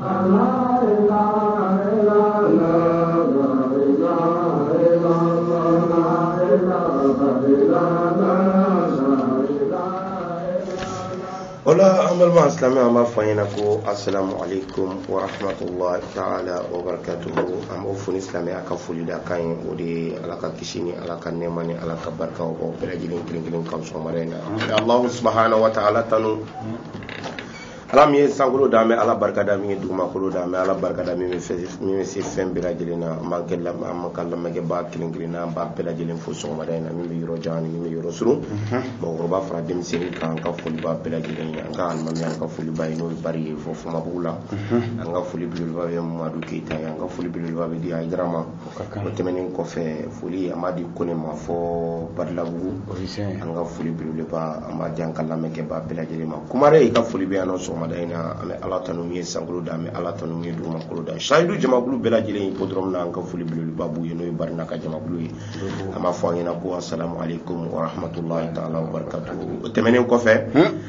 Ola an balima alisilamɛ an b'a fɔ aw ɲɛna ko asalamu aleykum wa rahmatulahi taala wa barakatuhu an b'aw fo ni silamɛya ka foli da kan ye o de ye ala ka kisi ni ala ka nɛɛma ni ala ka barika k'aw bɛɛ lajɛlen kelen kelen kan sɔgɔmada in na an bɛ alahu subahana wa taala tanu ala min ye sankolo da an bɛ ala barika da min ye dugumakolo da an bɛ ala barika da min bɛ se fɛn bɛɛ lajɛlen na an b'an kɛ an ka lamɛnkɛbaa kelen kelen na an b'aw bɛɛ lajɛlen fo sɔgɔmada in na min bɛ yɔrɔ jan ani min bɛ yɔrɔ surun mɔgɔkɔrɔba fara denmisɛnnin kan an ka foli b'aw bɛɛ lajɛlen ye an ka alimami an ka foli b'a ye n'o ye bari ye fo famabugu la an ka foli belebeleba bɛ mamadu keyita ye an ka foli belebeleba bɛ di ayidara ma O tɛmɛnen kɔfɛ foli amadi kone ma fo balabugu an ka foli beleba an ma jan ka lamɛnkɛba bɛɛ lajɛlen ma kumaden i ka foli bɛ yan sɔgɔmada in na an bɛ ala tanu min ye sankolo da an bɛ ala tanu min ye dugukolo da sayidu jamakulu bɛɛ lajɛlen in ko dɔrɔn min na an ka foli belebeleba b'u ye n'o ye barika ka jamakulu ye an b'a fɔ an ɲɛna ko sa ko ko hamadulayi ta barika o tɛmɛnen kɔfɛ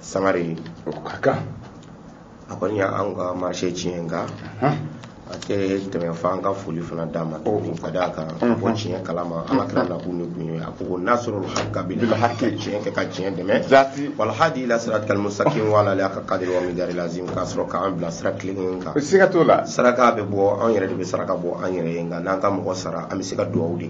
sangare o ka kan a kɔni y'an ka marise tiɲɛ nka a tɛ tɛmɛ fo an ka foli fana d'a ma tuguni ka d'a kan a b'o tiɲɛ kalama an ka kira nakun de tun ye a ko ko nasiri haki bili haki tiɲɛ kɛ ka tiɲɛ dɛmɛ wali hadi ila siratikali musitakim wala haka kadiri wa mikidari lazim k'a sɔrɔ k'an bila sira kelen kan siga t'o la saraka bɛ bɔ an yɛrɛ de bɛ saraka bɔ an yɛrɛ ye nka n'an ka mɔgɔ sara an bɛ se ka dugawu de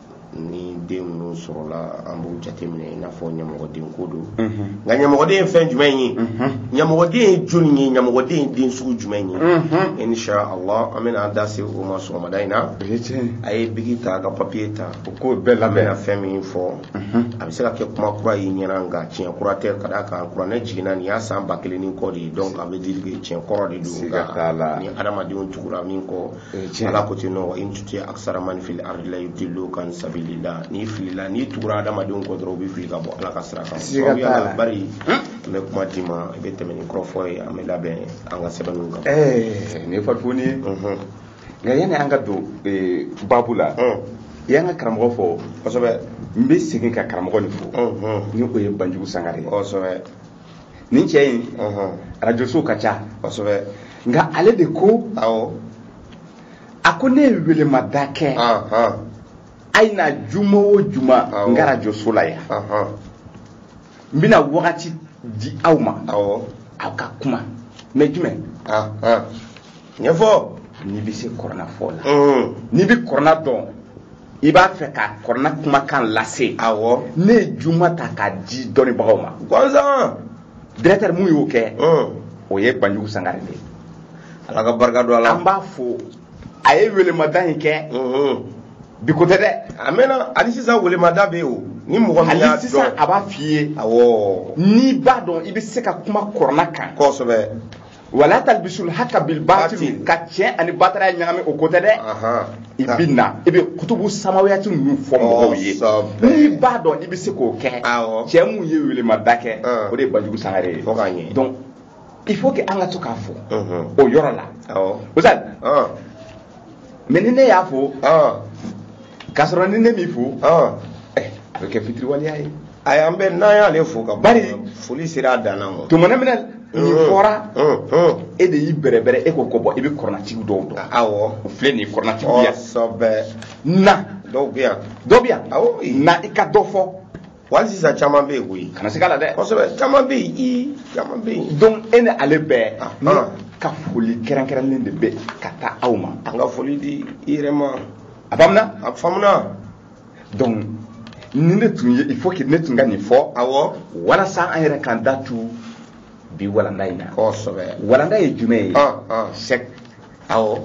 ni den minnu sɔrɔla an b'u jateminɛ i n'a fɔ ɲɛmɔgɔden ko don nka ɲɛmɔgɔden ye fɛn jumɛn ye ɲɛmɔgɔden ye jɔni ye ɲɛmɔgɔden ye den sugu jumɛn ye insha allah an bɛna an da se o ma sɔgɔmada in na a ye bigi ta ka papiye ta o ko bɛɛ lamɛnna fɛn min fɔ a bɛ se ka kɛ kuma kura y'i ɲɛna nka tiɲɛ kura tɛ ka d'a kan kuranɛ jiginna nin y'a san ba kelen ni kɔ de ye donc a bɛ deli tiɲɛ kɔrɔ de don nka ni hadamadenw tugura min kɔ ala ko ten wa in tuti aksara man fili ardi yudilluka an sabilila n'i filila n'i tugura adamadenw kɔ dɔrɔn u b'i fili ka bɔ ala ka sira kan sababu yala bari an bɛ kuma d'i ma i bɛ tɛmɛ ni kɔrɔfɔ ye an bɛ labɛn an ka sɛbɛnniw kan ɛɛ nin ye farifoni ye nka yanni an ka don babu la i y'an ka karamɔgɔ fo kosɛbɛ n bɛ segin ka karamɔgɔ nin fo ni o ye banjugu sangare ye kosɛbɛ nin cɛ in arajosow ka ca kosɛbɛ nka ale de ko awɔ a ko ne ye welemada kɛ a ye na juma o juma n ka arajoso la yan n bɛna wagati di aw ma aw ka kuma mɛ jumɛn ɲɛfɔ n'i bɛ se kɔrɔna fɔ la n'i bɛ kɔrɔna dɔn i b'a fɛ ka kɔrɔna kumakan lase awɔ ne ye juma ta k'a di dɔnnibagaw ma gansan directeur min y'o kɛ o ye banjugu sangare de ye ala ka barika don a la an b'a fo a ye welemada in kɛ bi ko tɛ dɛ a mɛnna hali sisan welemada bɛ yen o ni mɔgɔ min y'a dɔn sisan a b'a f'i ye awɔ n'i b'a dɔn i bɛ se ka kuma kɔrɔna kan kosɛbɛ wala talbisul hakka bil batil ka tiɲɛ ani bataraya ɲagami o ko tɛ dɛ i bɛ na i bɛ kutubu samawiyati ninnu fɔ mɔgɔw ye n'i b'a dɔn i bɛ se k'o kɛ cɛ mun ye welemada kɛ o de ye banjugu sangare ye donc il faut que an ka to k'a fɔ o yɔrɔ la ozali mais ni ne y'a fɔ k'a sɔrɔ ni ne m'i fo a bɛ kɛ fitiriwaleya ye A y' an bɛ n'an y'ale fo ka ban foli sera a dan ma tuma min na nin fɔra e de y'i bɛrɛbɛrɛ e ko ko bon i bɛ kɔrɔnatigi dɔw dɔn aw filɛ nin kɔrɔnatigi na dɔw bɛ yan dɔ bɛ yan na i ka dɔ fɔ hali sisan caman bɛ yen koyi kana se la dɛ caman bɛ yen caman bɛ yen don e ni ale bɛɛ ka foli kɛrɛnkɛrɛnnen de bɛ ka taa aw ma an ka foli di i yɛrɛ ma a banna donc ni ne tun ye il faut que ne tun ka nin fɔ awɔ walasa an yɛrɛ k'an da tu bi walanda in na kosɛbɛ walanda ye jumɛn ye ah, ah. sɛk awɔ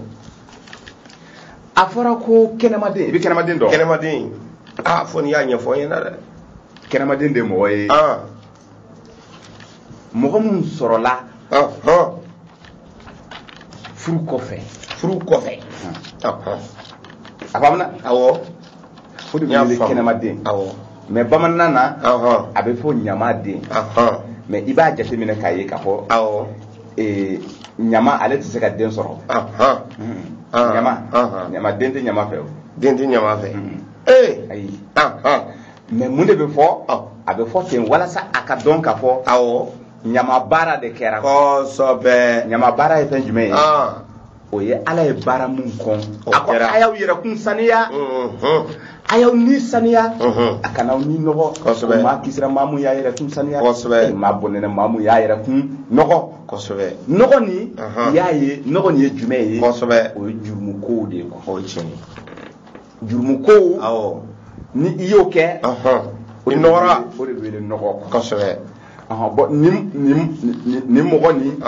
a fɔra ko kɛnɛmaden i bɛ kɛnɛmaden dɔn kɛnɛmaden a ah, fɔ n'i y'a ɲɛfɔ n ɲɛna dɛ kɛnɛmaden de mɔgɔ ye mɔgɔ minnu sɔrɔla furu kɔfɛ furu kɔfɛ a faamuya awɔ o de bɛ kɛnɛmaden awɔ mais bamanankan na a bɛ fɔ ɲamaden mais i b'a jateminɛ k'a ye k'a fɔ awɔ ɲama ale tɛ se ka den sɔrɔ ɲama ɲama den tɛ ɲama fɛ o den tɛ ɲama fɛ ee ayi mais mun de bɛ fɔ a bɛ fɔ ten walasa a ka dɔn k'a fɔ awɔ ɲama baara de kɛra kosɛbɛ ɲama baara ye fɛn jumɛn ye o ye ala ye baara min kɔn a ko a y'aw yɛrɛkun saniya a y'aw ni saniya a kana aw ni nɔgɔ maa kisira maa mun y'a yɛrɛkun saniya e maa bɔnɛna maa mun y'a yɛrɛkun nɔgɔ kosɛbɛ nɔgɔ nin y'a ye nɔgɔ nin ye jumɛn ye kosɛbɛ o ye jurumu kow de ye o ye tiɲɛ ye jurumu ko awɔ ni i y'o kɛ o de nɔgɔra o de wele nɔgɔ kosɛbɛ bon nin mɔgɔ nin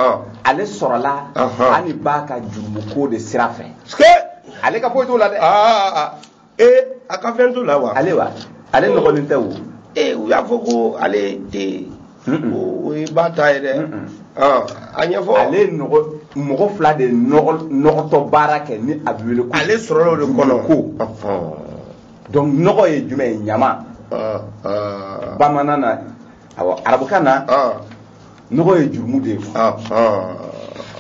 ale sɔrɔla ani ba ka jurumu ko de sira fɛ ale ka foyi t'o la dɛ ee a ka fɛn t'o la wa ale wa ale nɔgɔlen tɛ o ee u y'a fɔ ko ale tɛ o ye ba ta ye dɛ a ɲɛfɔ ale ye nɔgɔ mɔgɔ fila de ye nɔgɔ- nɔgɔtɔ baara kɛ ni a bɛ wele ko ale sɔrɔla o de kɔnɔ ko donc nɔgɔ ye jumɛn ye ɲama Ah, ah, bamanan na awɔ arabukan na ah, nɔgɔ ye jurumu de ye ah, ah.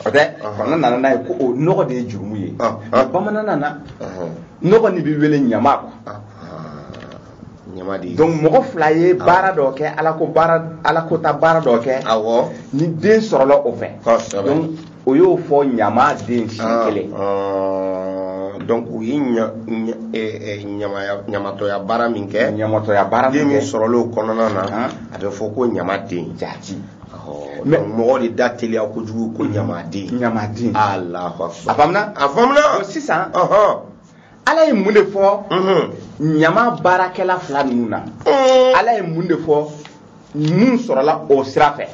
o tɛ Ɔhɔn. fana nana n'a ye ko o nɔgɔ de ye jurumu ye Ɔhɔn. Mais bamanan na Ɔhɔn. nɔgɔ nin bɛ wele ɲama quoi Ah, donc mɔgɔ fila ye baara dɔ kɛ alakota baara dɔ kɛ ni den sɔrɔla o fɛ o y'o fɔ ɲama den si ah, kelen ah, donc u ye eh, eh, ɲamatɔya baara min kɛ ɲamatɔya baara min kɛ sɔrɔla o kɔnɔna na ah. a bɛ fɔ ko ɲama den jaati mais mɔgɔ de da teliya kojugu ko ɲama den ɲama den a faamuya a faamuya sisan ala ye mun de fɔ ɲama baarakɛla fila ninnu na ala ye mun de fɔ mun sɔrɔla o sira fɛ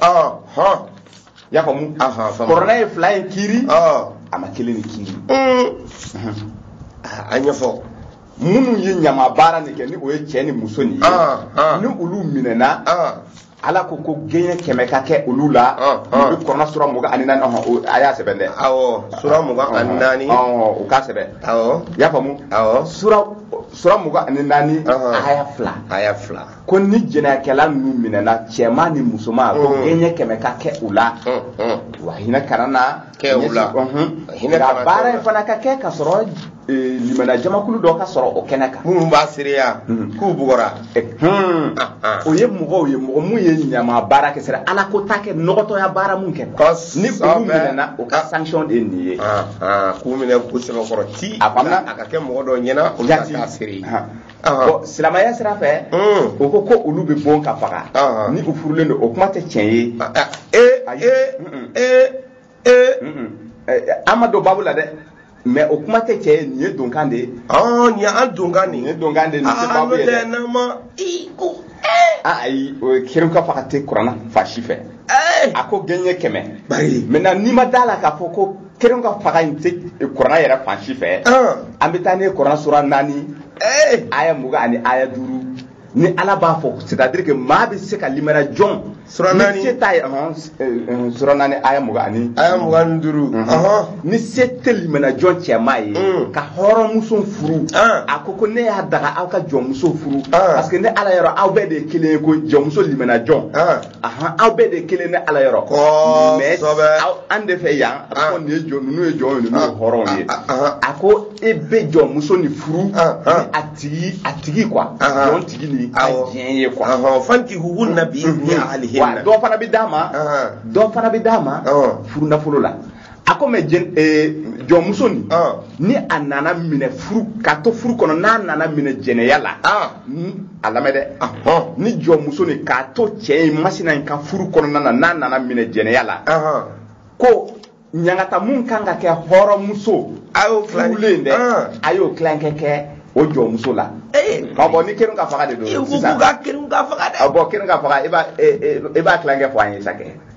y'a faamu kuranna ye fila in kiiri a ma kelen nin kiiri a ɲɛfɔ minnu ye ɲama baara nin kɛ ni o ye cɛ ni muso nin ye ni olu minɛna ala ko ko gɛɲɛ kɛmɛ ka kɛ olu la nin bɛ kuranna sura mugan ani naani ɔhɔn a y'a sɛbɛn dɛ awɔ sura mugan ani naani ɔhɔn o k'a sɛbɛn awɔ i y'a faamu awɔ sura sura mugan ani naani aya fila aya fila ko ni jɛnɛyakɛla ninnu minɛna cɛman ni musoman ko gɛɲɛ kɛmɛ ka kɛ u la wa hinɛ kana na kɛ u la hinɛ ka baara in fana ka kɛ ka sɔrɔ limana jamakulu dɔ ka sɔrɔ o kɛnɛ kan minnu b'a seereya k'u bugɔra o ye mɔgɔw ye mɔgɔ mun ye ɲama baara kɛ sira alakota kɛ nɔgɔtɔya baara mun kɛ ni olu minɛna o ka sanction de ye nin ye k'u minɛ k'u sɛbɛkɔrɔ ti a ka kɛ mɔgɔ dɔw ɲɛna olu ka k'a seere bon silamɛya sira fɛ o ko ko olu bɛ bon ka faga ni u furulen don o kuma tɛ tiɲɛ ye an ma don babu la dɛ mais o kuma tɛ tiɲɛ ye nin ye donkan de ye nin y'an donkan de ye donkan de ye nin tɛ babu ye dɛ ayi o kerun ka faga tɛ kuranna fan si fɛ a ko gɛɲɛ kɛmɛ maintenant n'i ma d'a la k'a fɔ ko kerun ka faga in tɛ kuranna yɛrɛ fan si fɛ an bɛ taa ɲɛ kuranna sura naani aya mugan ani aya duuru ni ala b'a fɔ c'est à dire que maa bɛ se ka limaniya jɔn sura naani ni se t'a ye sura naani aya mugan ani aya mugan ni duuru ni se tɛ limaniya jɔn cɛman ye mm. ka hɔrɔnmuso furu a ko ko ne y'a daga aw ka jɔnmuso furu parce que ne ala yɔrɔ aw bɛɛ de ye kelen ye ko jɔnmuso limaniya jɔn ahan aw bɛɛ de kelen ne ala yɔrɔ mais an de fɛ yan a ah. ko nin ye jɔn ninnu ye jɔn ye ninnu ye ah. hɔrɔnw ye ah, a ko e bɛ jɔnmuso nin furu a tigi a tigi quoi jɔn tigi ni a diɲɛ ye quoi fankihuhunna bi izni ahlihinna dɔ fana bɛ d'a ma dɔ fana bɛ d'a ma furu nafolo la a ko mais eh, jɔnmuso nin ah. ni a nana minɛ furu k'a to furu kɔnɔ n'a nana minɛ jɛnɛya la ah. a lamɛn dɛ ah. ni jɔnmuso nin k'a to cɛ in masina in ka furu kɔnɔna na n'a nana minɛ jɛnɛya la ko ɲangata mun kan ka kɛ hɔrɔnmuso a y'o filɛ dɛ a y'o tilankɛ kɛ o jɔnmuso la eh. k'a bon ni keren k'a faga de don sisan ka faga dɛ bon keren k'a faga i b'a tilankɛ fɔ an ye sa kɛ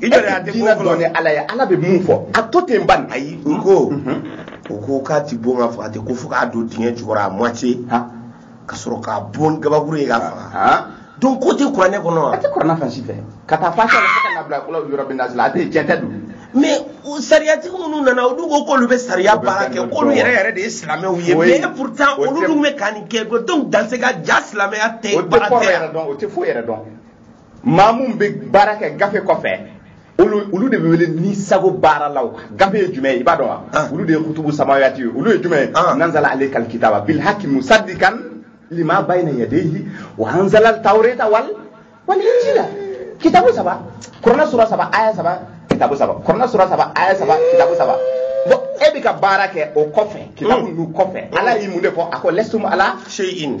i jɔ de y'a den diinɛ ko dɔn ni fɔlɔ ala ye ala bɛ mun fɔ a to ten ban ayi u ko u ko k'a tɛ bon k'a faga ten ko fo k'a don dingɛ jukɔrɔ a moitié Ha. ka sɔrɔ k'a bon gabakuru ye k'a faga Ha. donc ko tɛ kuranɛ kɔnɔ wa a tɛ kɔrɔna fan si fɛ k'a ta fatiha la fo ka na bila kul awuzu birabi nasi la a tɛ tiɲɛ tɛ don mais o sariyatigi minnu nana olu ko k'olu bɛ sariya baara kɛ k'olu yɛrɛ yɛrɛ de ye silamɛw ye Oui. mais pourtant O olu tɛ- dun bɛ ka nin kɛ donc dans ce cas jaa silamɛya tɛ o tɛ baara kɔrɔ tɛ yɛrɛ yan dɔn o tɛ foyi yɛrɛ dɔn maa mun bɛ baara kɛ gafe kɔfɛ olu olu de bɛ wele ni sago baaralaw gafe ye jumɛn ye i b'a dɔn wa ah. olu de ye kutubu samawiyati ye olu ye jumɛn ye ah. nazala alaykal kitaba bil haki musaddikan lima bayna yadayhi wa anzala al tawrata wal wal injila kitabu saba kurana sura saba aya saba kitabu saba kurana sura saba aya saba kitabu saba bon e bɛ ka baara kɛ o kɔfɛ kitabu hmm. ninnu kɔfɛ ala ye mun de fɔ a ko lastum ala shay'in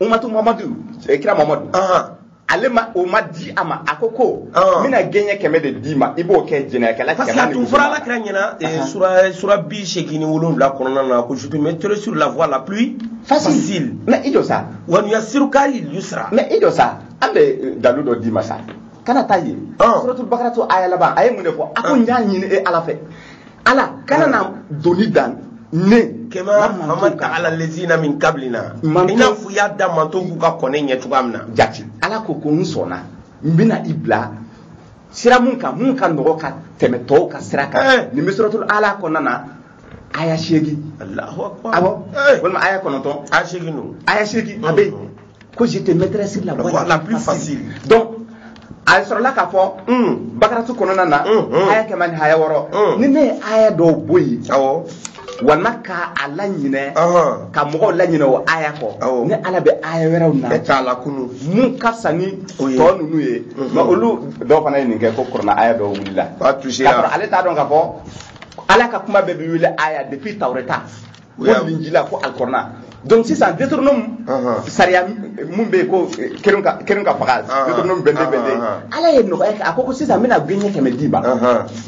umatu mamadu eh, kira mamadu ale ma o ma di a ma a ko ko n bɛna gɛɲɛ kɛmɛ de d'i ma i b'o kɛ jɛnɛyakɛla parce que a tun fɔra ala kira ɲɛna eh, sura sura bi seegin ni wolonwula kɔnɔna na ko je te mettrai sur la voie la plus facile mais i jɔ sa wa nuyasiruka lil yusra mais i jɔ sa an bɛ eh, dalu dɔ d'i ma sa kana taa yen suratul bakaratu aya laban a ye mun de fɔ a ko n y'a ɲini e ala fɛ ala kana na doni da ne kan kama hamalta ala lazina min kablina i n'a fɔ i y'a da manton kun ka kɔn ne ɲɛ cogoya min na jati ala ko ko n sɔnna n bɛna i bila sira mun kan mun ka nɔgɔ ka tɛmɛ tɔw ka sira kan eh. nin bɛ suratul ala kɔnɔna na aya seegin awɔ eh. walima aya kɔnɔntɔn aya seegin don aya seegin a bɛ yen ko je te mettrai sur la voie la plus facile donc a sɔrɔla k'a fɔ hmm. bakaratu kɔnɔna na hmm, hmm. aya kɛmɛ ni aya wɔɔrɔ ni ne ye aya dɔw bɔ yen walima ka a laɲinɛ ka mɔgɔw laɲinɛ o aya kɔ ne ala bɛ aya wɛrɛw na k'a lakunu mun ka fisa ni tɔ ninnu ye mais olu dɔw fana ye nin kɛ ko kɔrɔna aya dɔw wulila k'a sɔrɔ ale t'a dɔn k'a fɔ ala ka kuma bɛɛ bɛ wele aya depuis tawureta o y'a min jila ko alkɔrɔna donc sisan deuteronome sariya mun bɛ ko kɛrun ka kɛrun ka faga deuteronome vingt-deux vingt-deux ala ye nɔgɔya kɛ a ko ko sisan n bɛna gɛɲɛ kɛmɛ d'i ma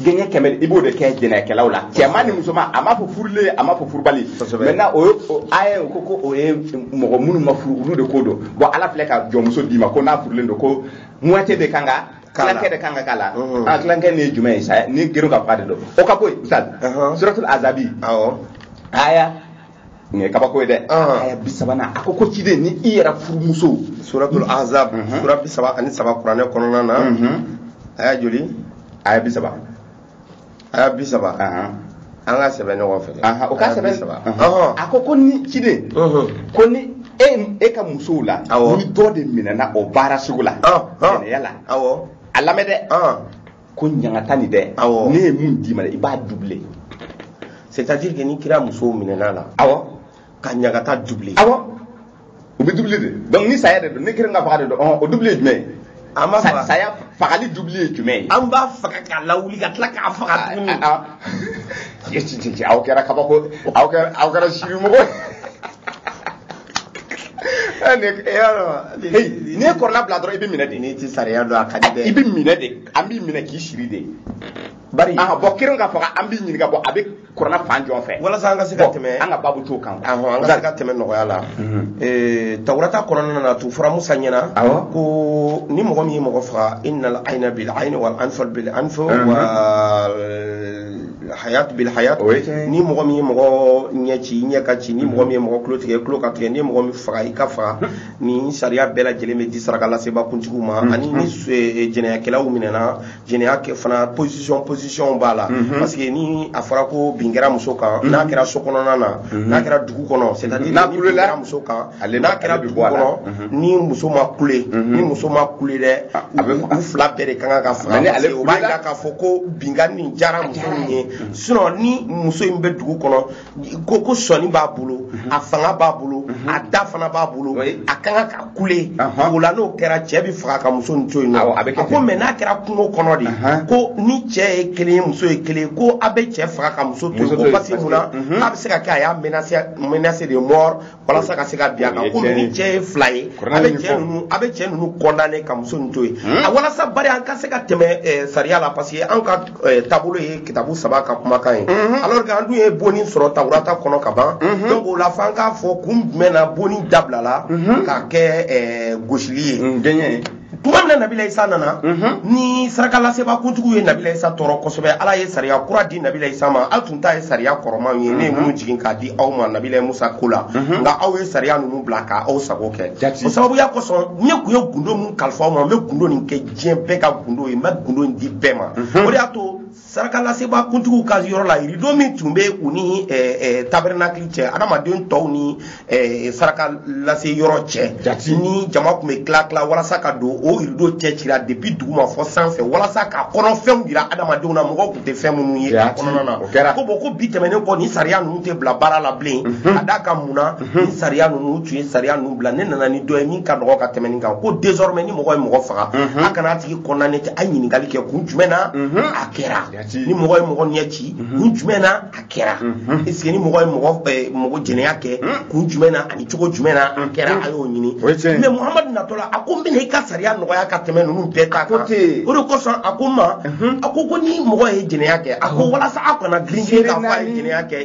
gɛɲɛ kɛmɛ i b'o de kɛ jɛnɛyakɛlaw la cɛman ni musoman a m'a fɔ furulen a m'a fɔ furubali maintenant o ye o ko ko o ye mɔgɔ minnu ma furu olu de ko don bon ala tila ka jɔnmuso d'i ma ko n'a furulen don ko moitié de kan ka tilankɛ de kan ka k'a la a tilankɛ nin ye jumɛn ye sa ni kɛrun ka faga de don o ka ko ye ustaz suratul azabi awɔ aya nin ye kabako ye dɛ aya bi sabanan a ko ko ciden ni i yɛrɛ furumuso suratul azab sura bi saba ani saba kuranɛ kɔnɔna na aya joli aya bi saba aya bi saba an ka sɛbɛn ɲɔgɔn fɛ o ka sɛbɛn saba a ko ko ni ciden ko ni e e ka musow la ni dɔ de minɛna o baara sugu la jɛnɛya la a lamɛn dɛ ko ɲangata nin dɛ ne ye min d'i ma i b'a dubile c'est à dire que ni kira musow minɛna a la awɔ ka ɲagata dubile awɔ o bɛ dubile de donc ni saya de don ni kɛrun ka faga de don ɔhɔn o dubile ye jumɛn ye an b'a faga saya fagali dubile ye jumɛn ye an b'a faga k'a lawuli ka tila k'a faga tuguni aw kɛra kabako aw kɛra aw kɛra sirimɔgɔ n'i ye kuranɛ bila dɔrɔn i bɛ minɛ de n'i tɛ sariya dɔn a ka di dɛ i bɛ minɛ de an b'i minɛ k'i siri de bari bon kɛrun ka faga an b'i ɲininka bon a bɛ kuranɛ fan jɔn fɛ walasa an ka se ka tɛmɛ an ka babu t'o kan awɔ an ka se ka tɛmɛ nɔgɔya la ee tawurata kɔnɔna na tun fɔra musa ɲɛna awɔ ko ni mɔgɔ min ye mɔgɔ faga innal ayna bil ayni wal anfa bil anfa wa hayat bil hayat ni mɔgɔ min ye mɔgɔ ɲɛ ci ɲɛ ka ci ni mɔgɔ min ye mɔgɔ tulo tigɛ tulo ka tigɛ ni mɔgɔ min faga i ka faga nin sariya bɛɛ lajɛlen bɛ di sarakalaseba kuntigiw ma ani ni jɛnɛyakɛlaw minɛna jɛnɛya kɛ fana position position b'a la mhm. parce que ni a fɔra ko bin kɛra muso kan mhm. n'a kɛra so kɔnɔna na mhm. n'a kɛra dugu kɔnɔ c'est à dire bin kɛra muso kan n'a kɛra dugu kɔnɔ ni muso ma kule ni muso ma kule dɛ ah, u fila bɛɛ de ka kan ka faga parce que o b'a jira k'a fɔ ko binkanni nin diyara muso nin ye sinon ni muso in bɛ dugu kɔnɔ ko ko sɔni b'a bolo mhm. a fanga b'a bolo mhm. a da fana b'a bolo a ka kan ka kule o la n'o kɛra cɛ bɛ faga ka muso nin to yen nɔ a ko mais n'a kɛra kungo kɔnɔ de ko ni cɛ ye kelen ye muso ye kelen ye ko a bɛ cɛ faga ka muso to yen ko parce que mun na mhm. a bɛ se ka kɛ a y'a menacé de mort walasa ka se ka bin a kan ko ni cɛ ye fila ye a bɛ cɛ ninnu a bɛ cɛ ninnu condamner ka muso nin to yen hmm? a walasa bari an ka se ka tɛmɛ eh, sariya la parce que an ka eh, taabolo ye kitabu saba ka kumakan ye hmm? alors que an dun ye bonni sɔrɔ taurata kɔnɔ ka ban hmm? donc o la fo an k'a fɔ kun jumɛn na bonni dabilala ka kɛ eh, gosili ye tuma min na nabila isa nana ni sarakalasebaa kuntigiw ye nabila isa tɔɔrɔ kosɛbɛ ala ye sariya kura di nabila isa ma aw tun t'a ye sariya kɔrɔmanw ye ne ye minnu jigin k'a di aw ma nabila musa ko la nka aw ye sariya ninnu bila ka aw sago kɛ o sababuya kosɔn ne tun ye gundo min kalifa aw ma n bɛ gundo nin kɛ diɲɛ bɛɛ ka gundo ye n bɛ gundo in di bɛɛ ma o de y'a to sarakalasebaa kuntigiw ka yɔrɔ la yirido min tun bɛ u ni tabernakili cɛ adamaden tɔw ni saraka lase yɔrɔ cɛ ni jama tun bɛ tila tila walasa ka don o yirido cɛ cira depuis duguma fɔ sanfɛ walasa ka kɔnɔ fɛnw jira adamadenw na mɔgɔw tun tɛ fɛn minnu ye a kɔnɔna na ko bɔn ko bi tɛmɛnen kɔ nin sariya ninnu tɛ bila baara la bilen ka d'a kan mun na ni sariya ninnu u tun ye sariya ninnu bila ne nana ni dɔ ye min ka nɔgɔ ka tɛmɛ nin kan ko désormais ni mɔgɔ ye mɔgɔ faga a kana a tigi condamné ten a ye ɲininkali kɛ kun jumɛn na a kɛra ni mɔgɔ ye mɔgɔ ɲɛ ci kun jumɛn na a kɛra est ce que ni mɔgɔ ye mɔgɔ eh, mɔgɔ jɛnɛya kɛ kun jumɛn na ani cogo jumɛn na a kɛra a y'o ɲini O ye tiɲɛ ye. mais muhamadu natɔ la a ko n bɛna i ka sariya nɔgɔya ka tɛmɛ ninnu bɛɛ ta ko kan ten. o de kosɔn a ko n ma a ko ko ni mɔgɔ ye jɛnɛya kɛ a ko walasa aw kana girin girin k'a fɔ a ye jɛnɛya kɛ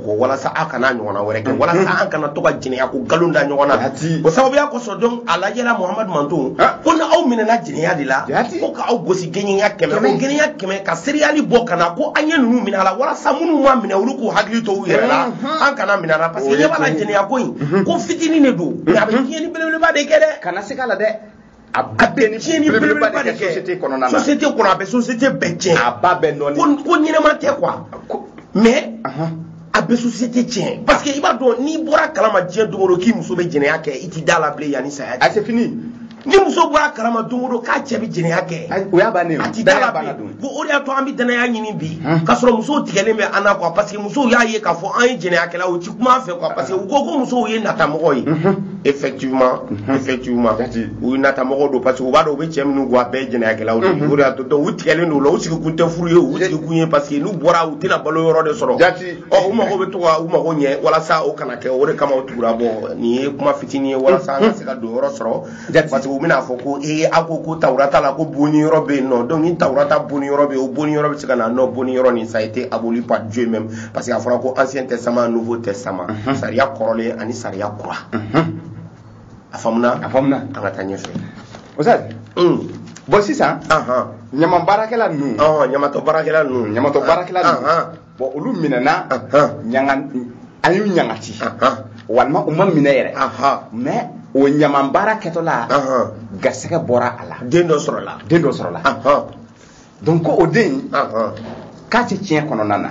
ko walasa aw kana ɲɔgɔnna wɛrɛ kɛ walasa an kana to ka jɛnɛya ko nkalon da ɲɔgɔn na o sababuya kosɔn donc a lajɛla muhamadu mantɔn ko ni aw minɛna jɛnɛya de la ko ka aw gosi gɛɲɛ ɲa kɛmɛ ko gɛɲɛ ɲa kɛmɛ ka seereyali bɔ ka na ko an ye ninnu minɛ a la walasa minnu ma minɛ olu k'u hakili to u yɛrɛ la an kana minɛ a la parce que ɲɛ b'a la jɛnɛya ko in ko fitinin de don nka a bɛ tiɲɛni belebeleba de kɛ dɛ kana siga a la dɛ a bɛ bɛn ni tiɲɛni belebeleba de kɛ société kɔnɔna na société kɔnɔ a bɛ société bɛɛ tiɲɛ a b'a bɛɛ nɔɔni ko ko ɲɛnama tɛ quoi mais a bɛ société tiɲɛ parce que i b'a dɔn n'i bɔra kalama diɲɛ don o don k'i muso bɛ jɛnɛya kɛ i t'i da la bilen yanni saya cɛ a c'est fini ni muso bɔra kalama don o don k'a cɛ bɛ jɛnɛya kɛ o y'a bannen ye a t'i da la bilen ko o de y'a to an bɛ danaya ɲini bi k'a sɔrɔ musow tigɛlen bɛ an na quoi parce que musow y'a ye k'a fɔ an ye jɛnɛyakɛlaw ye u tɛ kuma an fɛ quoi parce que u ko ko musow ye natamɔgɔ ye. effectivement mhm. effectivement u ye natamɔgɔw don parce que u b'a dɔn u bɛ cɛ minnu kɔ a bɛɛ ye jɛnɛyakɛlaw de mhm. o de y'a to donc u tigɛlen don o la u sigi kun tɛ furu ye u sigi kun ye parce que n'u bɔra u tɛna balo yɔrɔ de sɔrɔ ɔ u mago bɛ to ka u mago ɲɛ walasa o kana kɛ o de kama u tugura bɔn nin ye kuma fitinin ye walasa an ka se ka don yɔrɔ sɔrɔ parce que u bɛna fɔ ko ee a ko ko tawura ta la ko bonni yɔrɔ bɛ yen non donc ni tawura ta bonni yɔrɔ bɛ yen o bonni yɔrɔ bɛ se ka na non bonni yɔrɔ nin ça a été aboli par Dieu même parce que a fɔra ko ancien testament nouveau testament mhm. sariya kɔrɔlen ani sariya kura a faamuna a faamuna an ka taa ɲɛfɛ oustaz bɔn sisan ɲaman baarakɛla ninnu ɲamatɔ baarakɛla ninnu ɲamatɔ baarakɛla ninnu bɔn olu minɛna an y'u ɲangata walima u ma minɛ yɛrɛ même o ɲaman baara kɛtɔla garisɛgɛ bɔra a la den dɔ sɔrɔla den dɔ sɔrɔla donc ko o den k'a tɛ tiɲɛ kɔnɔna na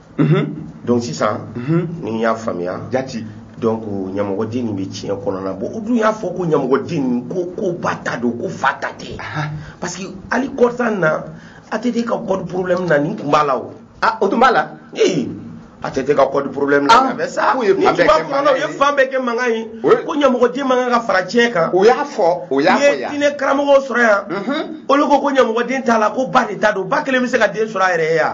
Mhm. donc sisan mhm. ni n y'a faamuya jati donc ɲamɔgɔden nin bɛ tiɲɛ kɔnɔna bon u dun y'a fɔ ko ɲamɔgɔden nin ko ko ba ta don ko fa ta tɛ parce que hali kɔrɔtan na ATT ka code problème na nin tun b'a la o ah o tun b'a la ee ATT ka code problème na a bɛ sa ni tuma kɔnɔna u ye fan bɛɛ kɛ mankan ye ko ɲamɔgɔden man kan ka fara tiɲɛ kan o y'a fɔ o y'a fɔ yan n'i ye diinɛ karamɔgɔw sɔrɔ yan olu ko ko ɲamɔgɔden t'a la ko ba de ta don ba kelen bɛ se ka den sɔrɔ a yɛrɛ ye yan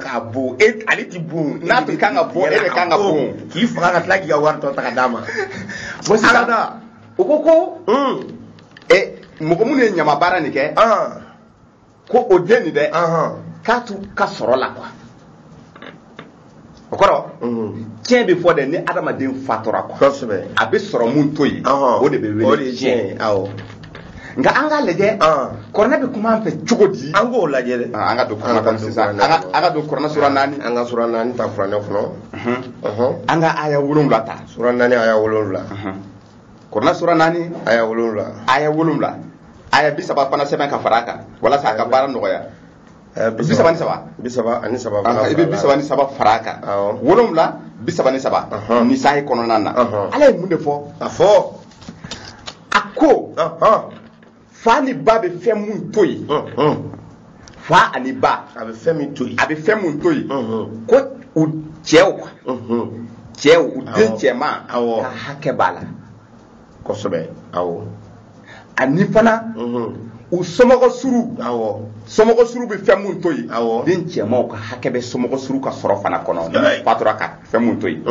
k'a bon e ale ti bon n'a tun kan ka bon e de kan ka bon k'i faga ka tila k'i ka wari tɔ ta ka d'a ma bon sisan o ko ko mɔgɔ minnu ye ɲama baara nin kɛ ko o den nin dɛ k'a t'u ka sɔrɔ la quoi o kɔrɔ tiɲɛ bɛ fɔ dɛ ni adamaden fatura quoi a bɛ sɔrɔ mun to yen o de bɛ wele tiɲɛ nka an ka lajɛ kuranɛ bɛ kuma an fɛ cogo di an k'o lajɛ dɛ an ka don kuranɛ kɔnɔ sisan an ka don kuranɛ sura naani an ka sura naani ta kuranɛ kɔnɔ an ka aya wolonwula ta sura naani aya wolonwula kuranɛ sura naani aya wolonwula aya wolonwula aya bi saba fana sɛbɛn ka fara a kan walasa a ka baara nɔgɔya eh, bi saba ni saba bi saba ani saba i bɛ bi saba ni saba fara a kan wolonwula bi saba ni saba nisayi kɔnɔna na Ala ye mun de fɔ a fɔ a ko fa ni ba bɛ fɛn mun to yen fa ani ba a bɛ fɛn min to yen a bɛ fɛn mun to yen ko u cɛw cɛw u den cɛman ka hakɛ b'a la kosɛbɛ awɔ ani fana u somɔgɔ suru awɔ somɔgɔ suru bɛ fɛn mun to yen awɔ den cɛmanw ka hakɛ bɛ somɔgɔ suru ka sɔrɔ fana kɔnɔ fatura ka fɛn mun to yen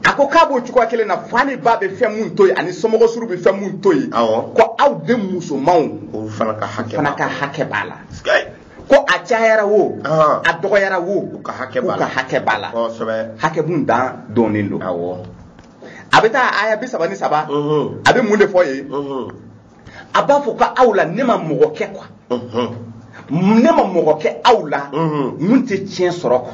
a ko k'a b'o cogoya kelen na fa ni ba bɛ fɛn mun to yen ani somɔgɔ suru bɛ fɛn mun to yen ko aw den musomanw olu fana ka hakɛ fana ka hakɛ b'a la ko a cayara wo a dɔgɔyara wo u ka hakɛ b'a la hakɛ b'a la hakɛ mun dan dɔnnen don a bɛ taa aya bi saba ni saba a bɛ mun de fɔ yen a b'a fɔ ko aw la ne ma mɔgɔ kɛ quoi ne ma mɔgɔ kɛ aw la mun tɛ tiɲɛ sɔrɔ quoi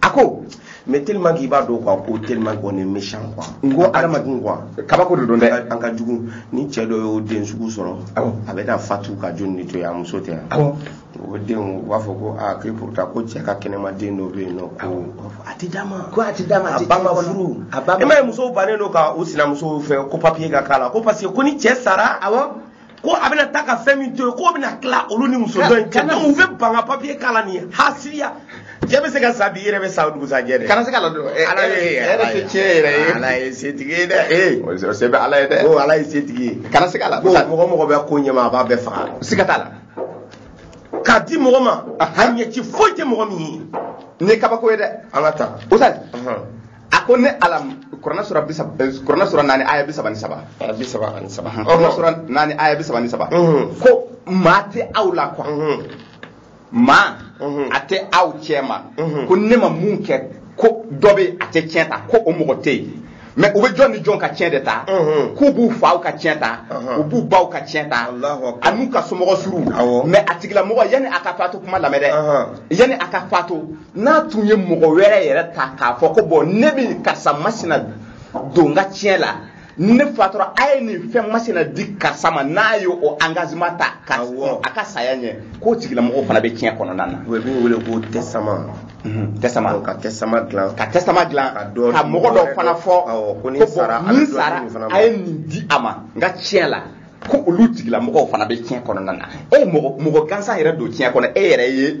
a ko mais tellement k'i b'a dɔn quoi ko tellement qu'on est méchant quoi n ko adamadenw quoi kabako de don dɛ an ka jugu ni cɛ dɔ y'o den sugu sɔrɔ a bɛ na fatu ka joli ni to yen a muso tɛ yan o den u b'a fɔ ko aa k'i pourtant ko cɛ ka kɛnɛma den dɔ bɛ yen nɔ ko a tɛ d'a ma ko a tɛ d'a ma a ba ma furu e m'a ye musow bannen don ka u sinamusow fɛ ko papiye ka k'a la ko parce que ko ni cɛ sara awɔ ko a bɛna taa ka fɛn min to yen k'o bɛna tila olu ni muso dɔ in cɛ donc u bɛ ban ka papiye k'a la nin ye hasidiya cɛ bɛ se ka sa bi i yɛrɛ bɛ sa o dugusajɛ dɛ kana se ka ladon ala ye ala ye tiɲɛ yɛrɛ ye ala ye setigi ye dɛ ee o se bɛ ala ye dɛ ko ala ye setigi ye kana se ka la ko mɔgɔ mɔgɔ bɛ ko ɲɛma a b'a bɛɛ faga siga t'a la k'a di mɔgɔ ma a ɲɛci foyi tɛ mɔgɔ min ye nin ye kabako ye dɛ an ka taa o sa a ko ne ala kurana sura bisa eh, kurana sura naani aya bi saba ni saba aya bi saba ani saba kurana sura naani aya bi saba ni saba ko maa tɛ aw la ko maa tɛ aw cɛ ma ko ne ma mun kɛ ko dɔ bɛ a tɛ tiɲɛ ta ko o mɔgɔ tɛ yen mɛ u bɛ jɔn ni jɔn ka tiɲɛ de ta k'u b'u faw ka tiɲɛ ta u b'u baw ka tiɲɛ ta an'u ka somɔgɔ suruw mɛ a tigilamɔgɔ yanni a ka faatu kuma lamɛn dɛ yanni a ka faatu n'a tun ye mɔgɔ wɛrɛ yɛrɛ ta k'a fɔ ko bon ne bɛ karisa masina don n ka tiɲɛ la ne faatura a ye nin fɛn masina di karisa ma n'a ye o engagement ta ka a ka saya ɲɛ k'o tigilamɔgɔ fana bɛ tiɲɛ kɔnɔna na o bɛ wele ko testament testament ka testament dilan ka testament dilan ka mɔgɔ dɔ fana fɔ ko ni n sara a ye nin di a ma n ka tiɲɛ la ko olu tigilamɔgɔw fana bɛ tiɲɛ kɔnɔna na e mɔgɔ gansan yɛrɛ don tiɲɛ kɔnɔ e yɛrɛ ye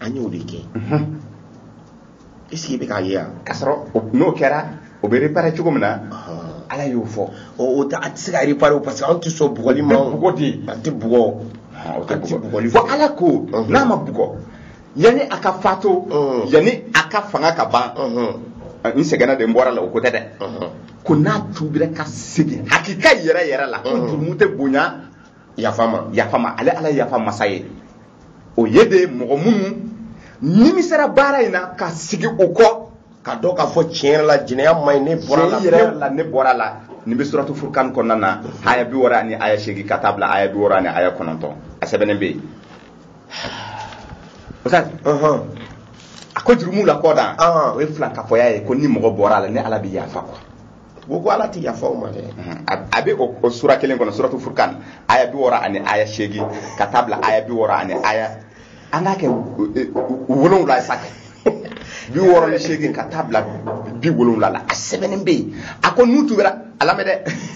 an y'o de kɛ est ce que i bɛ k'a ye yan k'a sɔrɔ n'o kɛra o bɛ réparer cogo min na ala y'o fɔ o tɛ a tɛ se ka réparer o parce que aw tɛ sɔn bugɔli ma bugɔ tɛ yen a tɛ bugɔ o tɛ bugɔli fɔ ala ko n'a ma bugɔ yanni a ka faatu yanni a ka fanga ka ban n sɛgɛnna de n bɔra la o ko tɛ dɛ ko n'a tuubira ka segin hakika yɛrɛ yɛrɛ la ko jurumu tɛ bonya yafa ma yafa ma ale ala yafa masa ye o ye de mɔgɔ minnu nimisara baara in na ka sigi u kɔ k'a dɔn k'a fɔ tiɲɛ yɛrɛ la jɛnɛya ma ɲi ne bɔra la yɛrɛ la ne bɔra la nin bɛ suratu furukan kɔnɔna na aya bi wɔɔrɔ ani aya seegin ka taa bila aya bi wɔɔrɔ ani aya kɔnɔntɔn a sɛbɛnnen bɛ yen a ko jurumuw la kɔdan o ye filankafoya ye ko ni mɔgɔ bɔra la ni ala bɛ yafa kɔ ko ko ala ti yafa o ma dɛ a bɛ o sura kelen kɔnɔ suratu furukan aya bi wɔɔrɔ ani aya seegin ka taa bila aya bi wɔɔrɔ ani aya an k'a kɛ wolonwula ye sa kɛ bi wɔɔrɔ ni seegin ka taa bila bi wolonwula la a sɛbɛnnen bɛ yen a ko n'u tuubira a lamɛn dɛ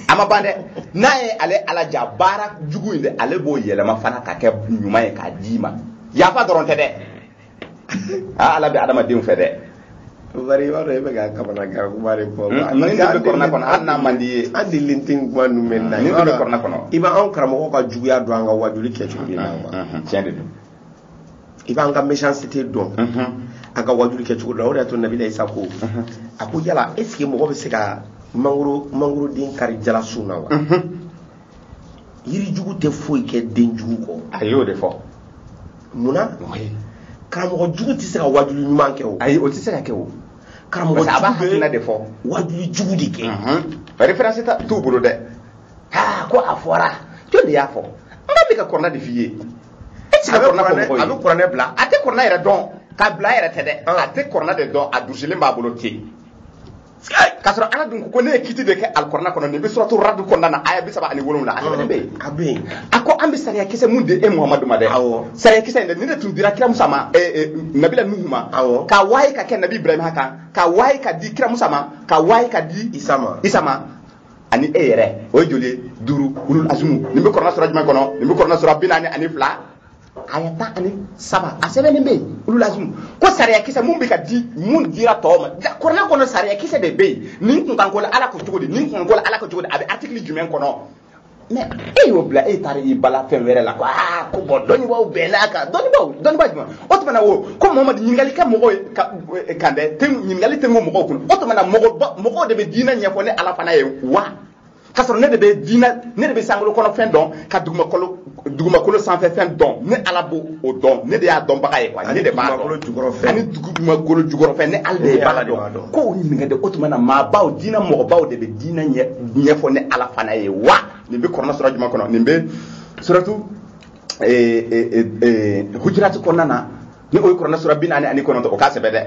a ma ban dɛ n'a ye ale ala ja baara jugu in dɛ ale b'o yɛlɛma fana ka kɛ ɲuman ye k'a d'i ma yafa dɔrɔn tɛ dɛ aa ala bɛ adamadenw fɛ dɛ bari i b'a dɔn e bɛ ka kamanagan kuma de fɔ ninnu bɛ kurana kɔnɔ hali n'a man d'i ye an delilen tɛ kuma ninnu mɛn na ninnu bɛ kurana kɔnɔ i b'an karamɔgɔ ka juguya dɔn an ka wajuli kɛcogo de la wa tiɲɛ de don i b'an ka méchanceté dɔn an ka wajuli kɛcogo la o de y'a to nabila isa ko a ko yala est ce que mɔgɔ bɛ se ka mangoro mangoroden kari jalasun na wa yiri jugu tɛ foyi kɛ den jugu kɔ a y'o de fɔ mun na karamɔgɔ jugu tɛ se ka wajuli ɲuman kɛ o ayi o tɛ se ka kɛ o karamɔgɔ jugu bɛ a b'a hakilina de fɔ wajuli jugu de kɛ référence t'u bolo dɛ aa ko a fɔra jɔn de y'a fɔ an b'a bɛ ka kurana de f'i ye e tɛ se ka kurana fɔ mɔgɔ ye a bɛ kurana bila a tɛ kurana yɛrɛ dɔn k'a bila a yɛrɛ tɛ dɛ a tɛ kurana de dɔn a durusilen b'a bolo ten k'a sɔrɔ ala dun ko ne ye kiti de kɛ alikurana kɔnɔ nin bɛ suratu radi kɔnɔna na aya bi saba ani wolonwula a sɛbɛnnen bɛ yen a bɛ yen a ko an bɛ sariya kisɛ mun di e muhamadu ma dɛ awɔ sariya kisɛ in dɛ nin de tun dira kira musa ma eh, eh, nabila nuhu ma awɔ ka waye ka kɛ nabi ibrahima kan ka waye ka di kira musa ma ka waye ka di isa ma isa ma ani e yɛrɛ o ye joli ye duuru ulul azumu nin bɛ kurana sura jumɛn kɔnɔ nin bɛ kurana sura bi naani ani fila aya tan ani saba a sɛbɛnnen bɛ yen ulul azumu ko sariya kisɛ mun bɛ ka di mun dira tɔw ma kurana kɔnɔ sariya kisɛ de bɛ yen nin kunkan ko la ala ko cogo di nin kunkan ko la ala ko cogo di a bɛ artikili jumɛn kɔnɔ mɛ e y'o bila e taara i bila fɛn wɛrɛ la ko aa ko bon dɔnnibaaw bɛnn'a kan dɔnnibaaw dɔnnibaa jumɛn o tuma na wo ko mamadu ɲininkali kɛ mɔgɔw ye ka kan dɛ ɲininkali tɛ mɔgɔw kun o tuma na mɔgɔ mɔgɔw de bɛ diinɛ ɲɛfɔ ne ala fana ye wa k'a sɔrɔ ne de bɛ diinɛ ne de bɛ sankolo kɔnɔ fɛn dɔn ka dugumakolo sanfɛ fɛn dɔn ne ala b'o o dɔn ne de y'a dɔnbaga ye ne de b'a dɔn ani dugumakolo jukɔrɔfɛn ne ala de b'a dɔn k'u ɲininka dɛ o tuma na maabaw diinɛ mɔgɔbaw de bɛ diinɛ ɲɛfɔ ne ala fana ye wa nin bɛ kurana sura jumɛn kɔnɔ nin bɛ suratu hujirati kɔnɔna na ni o ye kurana sura bi naani ani kɔnɔntɔn o k'a sɛbɛn dɛ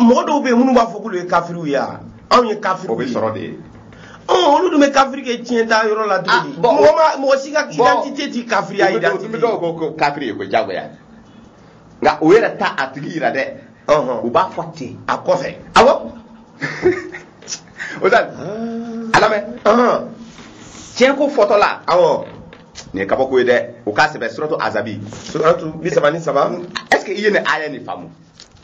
mɔgɔ dɔw bɛ yen minnu b'a fɔ k'olu ye kafiriw ye wa anw ye kafiriw ye o bɛ sɔrɔ de olu dun bɛ kafiri kɛ tiɲɛ ta yɔrɔ la cogo ah, di mɔgɔ ma mɔgɔ si ka identité ti kafiriya identité i bɛ dɔw ko ko kafiri ye ko jagoya nka o yɛrɛ ta a tigi yira dɛ u b'a fɔ ten a kɔfɛ awɔ o tɛ a lamɛn tiɲɛ ko fɔtɔla awɔ nin ye kabako ye dɛ o k'a sɛbɛn suratu azabi suratu bi saba ni saba est ce que i ye nin aya nin faamu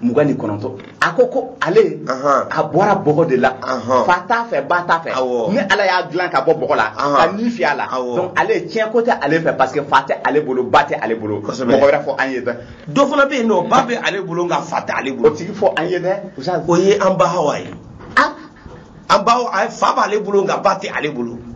mugan ni kɔnɔntɔn a ko ko ale a bɔra bɔgɔ de la fa t'a fɛ ba t'a fɛ ne ala y'a dilan ka bɔ bɔgɔ la ka ni fiyɛ a la donc ale tiɲɛ ko tɛ ale fɛ parce que fa tɛ ale bolo ba tɛ ale bolo mɔgɔ wɛrɛ fɔ an ye dɛ dɔ fana bɛ yen n'o ba bɛ ale bolo nka fa tɛ ale bolo o tigi fɔ an ye dɛ o ye an ba hawa ye an ba fa b'ale bolo nka ba tɛ ale bolo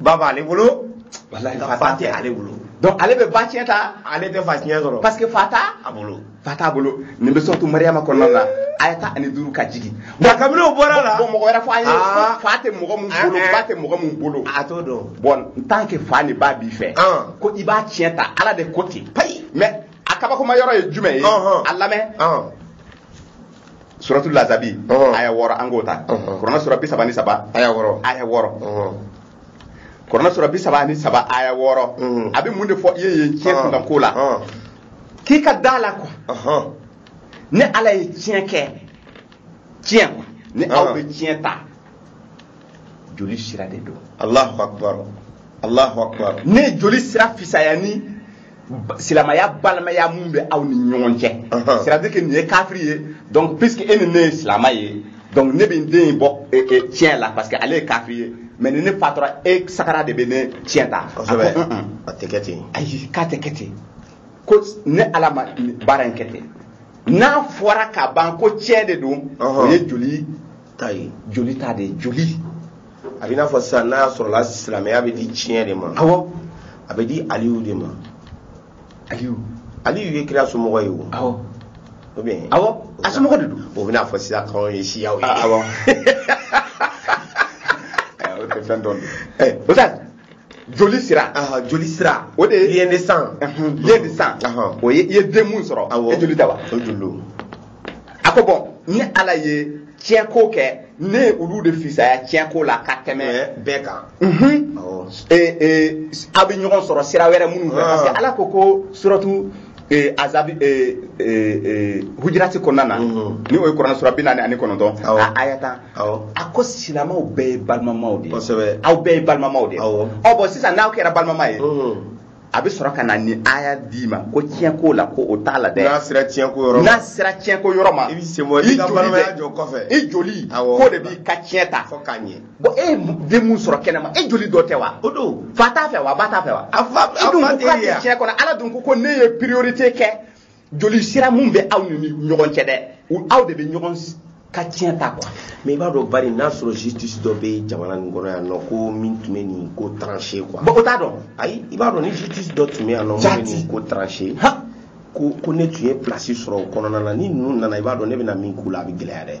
ba b'ale bolo walahi nka fa fa tɛ tɛ ale bolo donc ale bɛ ba tiɲɛ ta ale tɛ fa tiɲɛ sɔrɔ parce que fa t'a bolo fa t'a bolo nin bɛ suratu mariyama kɔnɔna la aya tan ani duuru ka jigin nka kabini o bɔra la bon mɔgɔ wɛrɛ fɔ an ye Ah. ko fa tɛ mɔgɔ min bolo Ah, ah. ba tɛ mɔgɔ min bolo a t'o dɔn bon en tant que fa ni ba b'i fɛ Ah. ko i b'a tiɲɛ ta ala de ko ten payi mais a kabakoma yɔrɔ ye jumɛn ye Ɔnhɔn. a lamɛn Ɔn. suratu lazabi ɔhɔn. aya wɔɔrɔ an k'o ta Ɔhɔn. kurana sura bi saba ni saba aya wɔɔrɔ aya wɔɔrɔ ɔhɔn. kurana sura bi saba ni saba aya wɔɔrɔ Mhm. a bɛ mun de fɔ i ye yen tiɲɛ Ɔhɔn. kunkan ko la Ɔhɔn. k'i ka da a la quoi Ɔhɔn. ne ala ye tiɲɛ kɛ tiɲɛ quoi ni aw Ɔhɔn. bɛ tiɲɛ ta joli sira de don allahu akbar allahu akbar ne ye joli sira fisaya ni silamaya balimaya mun bɛ aw ni ɲɔgɔn cɛ c'est à dire que nin ye kafiri ye donc puisque e ni ne ye silama ye donc ne bɛ n den in bɔ e, e, tiɲɛ la parce que ale ye kafiri ye mais ni ne fatura e sagara de bɛ ne tiɲɛ ta kosɛbɛ a tɛ kɛ ten ayi k'a tɛ kɛ ten ko ne ala ma baara in kɛ ten n'a fɔra ka ban ko tiɲɛ de don o ye joli ta ye joli ta de ye joli a bɛ i n'a fɔ sisan n'a sɔrɔla silamɛya bɛ di tiɲɛ de ma awɔ a bɛ di aliyu de ma aliyu aliyu ye kira somɔgɔ ye o awɔ o bɛ awɔ a somɔgɔ de don o bɛna fɔ sisan k'anw ye siyaw ye awɔ o tɛ fɛn dɔn o tɛ joli sira joli sira o de ye de sang ye de sang o ye i ye den mun sɔrɔ e joli tɛ wa o joli a ko bɔn ne ala ye tiɲɛko kɛ ne ye olu de fisaya tiɲɛko la ka tɛmɛ bɛɛ kan a bɛ ɲɔgɔn sɔrɔ sira wɛrɛ minnu fɛ parce que ala ko ko suratu azabi hujirati kɔnɔna na ni o ye kuranɛ sura bi naani ani kɔnɔntɔn a aya tan a ko silamɛw bɛɛ ye balimamaw de ye aw bɛɛ ye balimamaw de ye ɔ bɔn sisan n'aw kɛra balimama ye a bɛ sɔrɔ ka na nin aya d'i ma ko tiɲɛ ko la ko o t'a la dɛ n'a sera tiɲɛ ko yɔrɔ ma n'a sera tiɲɛ ko yɔrɔ ma i bɛ sen bɔ i ka balimaya jɔ kɔfɛ i joli ko de b'i ka tiɲɛ ta fo k'a ɲɛ bɔn e ye den mun sɔrɔ kɛnɛma e joli dɔ tɛ wa o dun fa t'a fɛ wa ba t'a fɛ wa a fa tɛ tiɲɛ kɔnɔ ala dun ko ko ne ye priorité kɛ joli sira mun bɛ aw ni ɲɔgɔn cɛ dɛ aw de bɛ ɲɔgɔn ka tiɲɛ ta quoi mais i b'a dɔn bari n'a sɔrɔ justice dɔ bɛ jamana nin kɔnɔ yan nɔ ko min tun bɛ nin ko trancher quoi bɔn o t'a dɔn ayi i b'a dɔn ni justice dɔ tun bɛ yan nɔ min bɛ nin ko trancher ko ko ne tun ye place sɔrɔ o kɔnɔna na ni ninnu nana i b'a dɔn ne bɛna min k'u la a bɛ gɛlɛya dɛ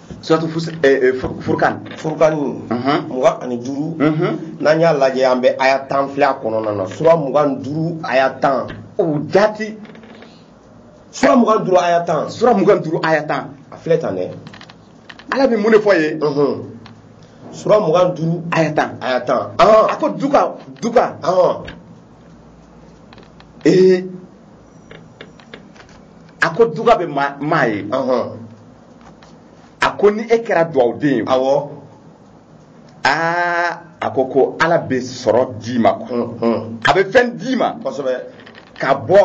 suratu furkan furkan mugan ani duuru n'an y'a lajɛ an bɛ aya tan filɛ a kɔnɔna na sura mugan duuru aya tan o jati sura mugan duuru aya tan sura mugan duuru aya tan a filɛ tan dɛ ala bɛ mun de fɔ yen sura mugan duuru aya tan aya tan a ko duga duga ee a ko duga bɛ maa ye a ko ni e kɛra duwawuden ye awɔ aa a ko ko ala bɛ sɔrɔ d'i ma quoi a bɛ fɛn d'i ma kosɛbɛ ka bɔ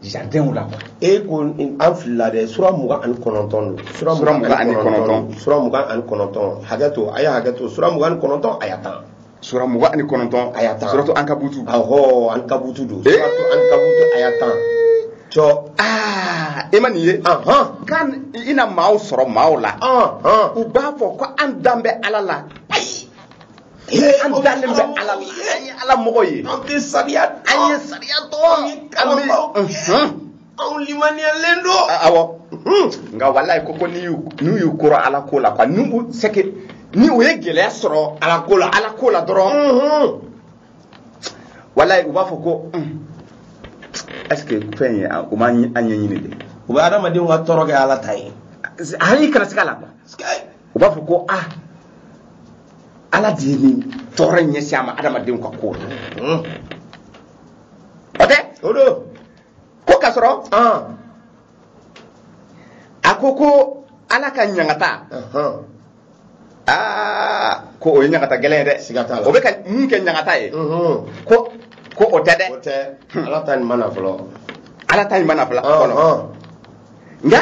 jardinw la quoi e ko an filila dɛ sura mugan ani kɔnɔntɔn don sura mugan ani kɔnɔntɔn sura mugan ani kɔnɔntɔn hakɛ to a ye hakɛ to sura mugan ani kɔnɔntɔn aya tan sura mugan ani kɔnɔntɔn aya tan suratu ankabutu awɔ ankabutu don suratu ankabutu aya tan cɔ aa e ma nin ye kan i na maaw sɔrɔ maaw la u b'a fɔ ko an dan bɛ ala la ayi an dalen bɛ ala la an ye ala mɔgɔ ye an tɛ sariya an ye sariya dɔn an bɛ anw limaniyalen don awɔ nka walayi ko ko n'u y'u koron ala ko la quoi n'u u c'est que ni u ye gɛlɛya sɔrɔ ala ko la ala ko la dɔrɔn walayi u b'a fɔ ko est ce que fɛn ye u ma an ɲɛɲini de u bɛ adamadenw ka tɔɔrɔ kɛ ala ta ye hali kana siga a la quoi u b'a fɔ ko ah ala de ye nin tɔɔrɔ ɲɛsin an ma adamadenw ka ko la o tɛ o don ko k'a sɔrɔ a ko ko ala ka ɲangata aa ko o ye ɲangata gɛlɛn ye dɛ siga t'a la o bɛ ka min kɛ ɲangata ye ko ko o tɛ dɛ o tɛ ala ta nin ma na fɔlɔ ala ta nin ma na fɔlɔ nka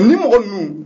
ni mɔgɔ ninnu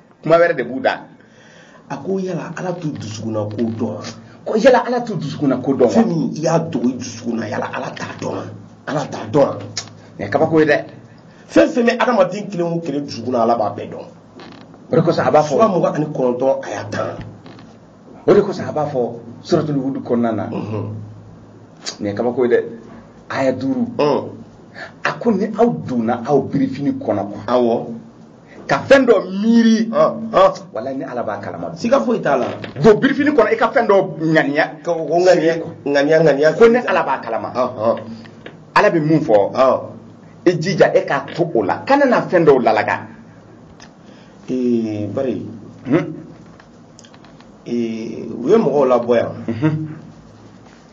kuma wɛrɛ de b'u da a ko yala ala t'u dusukunna ko dɔn wa ko yala ala t'u dusukunna ko dɔn wa fɛn min i y'a dogo i dusukunna yala ala t'a dɔn wa ala t'a dɔn wa nin ye kabako ye dɛ fɛn fɛn bɛ adamaden kelen o kelen dusukunna ala b'a bɛɛ dɔn o de kosɔn a b'a fɔ sura mugan ani kɔnɔntɔn aya tan o de kosɔn a b'a fɔ suratul hudu kɔnɔna na nin ye kabako ye dɛ aya duuru a ko ni aw donna aw birifini kɔnɔ quoi awɔ ka fɛn dɔ miiri walayi ne ala b'a kalama siga foyi t'a la don birifini kɔnɔ i ka fɛn dɔ ŋaniya ŋaniya ŋaniya ŋaniya ko ne ala b'a kalama ala bɛ mun fɔ i jija e k'a to o la kana na fɛn dɔw lalaga ee bari hmm? ee u ye mɔgɔw labɔ yan mhm.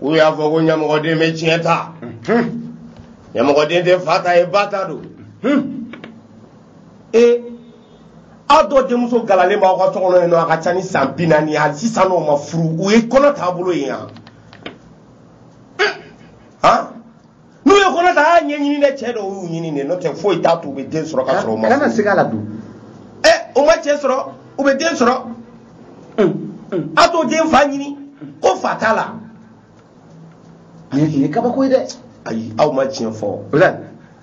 u y'a fɔ ko ɲamɔgɔden bɛ tiɲɛ ta ɲamɔgɔden tɛ fa ta ye ba ta don ee aw dɔ denmuso galalen b'aw ka so kɔnɔ yen nɔ a ka ca ni san bi naani ye hali sisan o ma furu u ye kɔnɔ taabolo ye yan n'u ye kɔnɔ ta a y'a ɲɛɲini dɛ cɛ dɔw y'u ɲini de n'o tɛ foyi t'a to u bɛ den sɔrɔ ka sɔrɔ u ma kana siga a la dɛ o ma cɛ sɔrɔ u bɛ den sɔrɔ a t'o den fa ɲini ko fa t'a la nin ye kabako ye dɛ ayi aw ma tiɲɛ fɔ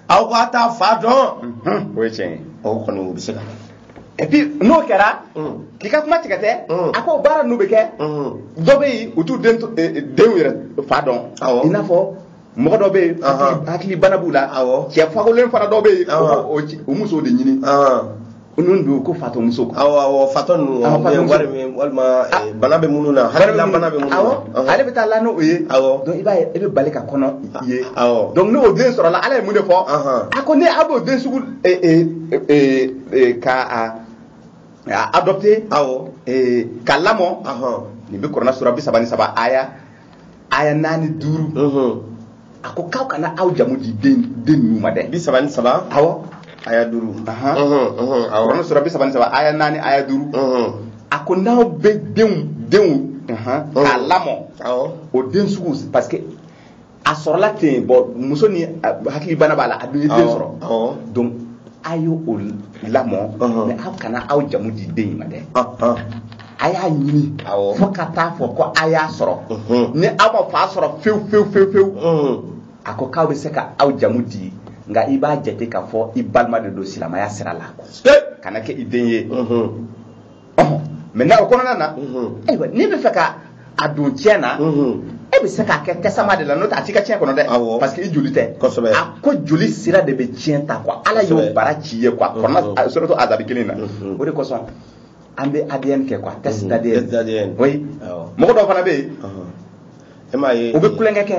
aw k'a t'a fa dɔn o ye tiɲɛ ye o kɔni o bɛ se ka et puis n'o kɛra mm. k'i ka kuma tigɛ tɛ mm. a ko baara n'u bɛ kɛ mm. dɔ bɛ yen u t'u denw eh, eh, yɛrɛ fa dɔn i n'a fɔ mɔgɔ dɔ bɛ yen hakili bana b'u la cɛ fakolen fana dɔ bɛ yen o musow de ɲini ninnu don ko fatɔ muso awɔ awɔ fatɔ ninnu wari min walima ah. eh, bana bɛ minnu na hakilila bana bɛ minnu na awɔ ale bɛ taa la n'o ye awɔ donc i b'a ye e bɛ bali ka kɔnɔ ye awɔ donc n'o den sɔrɔla ala ye mun de fɔ a ko n'aw b'o den sugu k'a adopter aw k'a lamɔ nin bɛ kuranɛ sura bi saba ni saba aya aya naani duuru a ko k'aw kana aw jamu di den den ninnu ma dɛ bi saba ni saba awɔ aya duuru kuranɛ sura bi saba ni saba aya naani aya duuru a ko n'aw bɛ denw denw k'a lamɔ o den sugu parce que a sɔrɔla ten bon muso ni hakilibana b'a la a dun ye den sɔrɔ donc a y'o lamɔ mais aw kana aw jamu di den in ma dɛ a y'a ɲini fo ka taa fɔ ko a y'a sɔrɔ ni aw ma fa sɔrɔ fewu fewu fewu fewu a ko k'aw bɛ se ka aw jamu di nka i b'a jate k'a fɔ i balima de don silamaya sira la kana kɛ i den ye maintenant o kɔnɔna na ayiwa n'i bɛ fɛ ka a don ciyɛn na e bɛ se k'a kɛ testament de la n'o tɛ a t'i ka ciyɛn kɔnɔ dɛ parce que i joli tɛ a ko joli sira de bɛ ciyɛn ta quoi ala y'o bara ci ye quoi kuranɛ suratu azabi kelen na o de kosɔn an bɛ ADN kɛ quoi test d'ADN oui mɔgɔ dɔw fana bɛ yen e m'a ye u bɛ kulonkɛ kɛ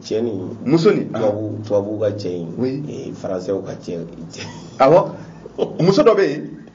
cɛ ni muso ni tubabu tubabuw ka cɛ in faransɛw ka cɛ awɔ muso dɔ bɛ yen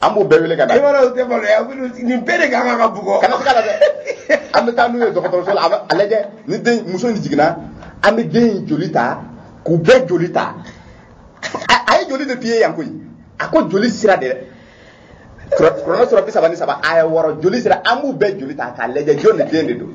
an b'u bɛɛ wele ka na i b'a dɔn u tɛ maloya nin bɛɛ de ka kan ka bugɔ kana siga a la dɛ an bɛ taa n'u ye dɔgɔtɔrɔso la a lajɛ ni den muso in jiginna an bɛ den in joli ta k'u bɛɛ joli ta a ye joli de f'i ye yan koyi a ko joli sira de dɛ kuranɛ sura bi saba ni saba aya wɔɔrɔ joli sira an b'u bɛɛ joli ta k'a lajɛ jɔn den de don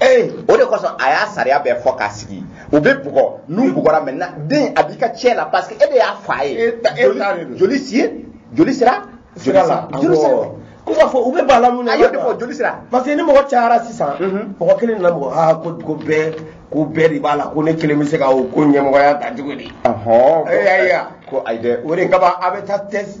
ee o de kosɔn a y'a sariya bɛɛ fɔ k'a sigi u bɛ bugɔ n'u bugɔra maintenant den a b'i ka ciyɛn la parce que e de y'a fa ye e e joli si joli sira sira la joli sira ko b'a fɔ u bɛ b'a la mun na a y'o de fɔ joli sira parce que ni mɔgɔ cayara sisan mhm. mɔgɔ kelen nana mɔgɔ aa ko ko bɛɛ ko bɛɛ de b'a la ko ne kelen bɛ se ka o ko ɲɛmɔgɔya ta cogo di. ɔhɔn ko ayi ko ayi dɛ o de kama a bɛ taa test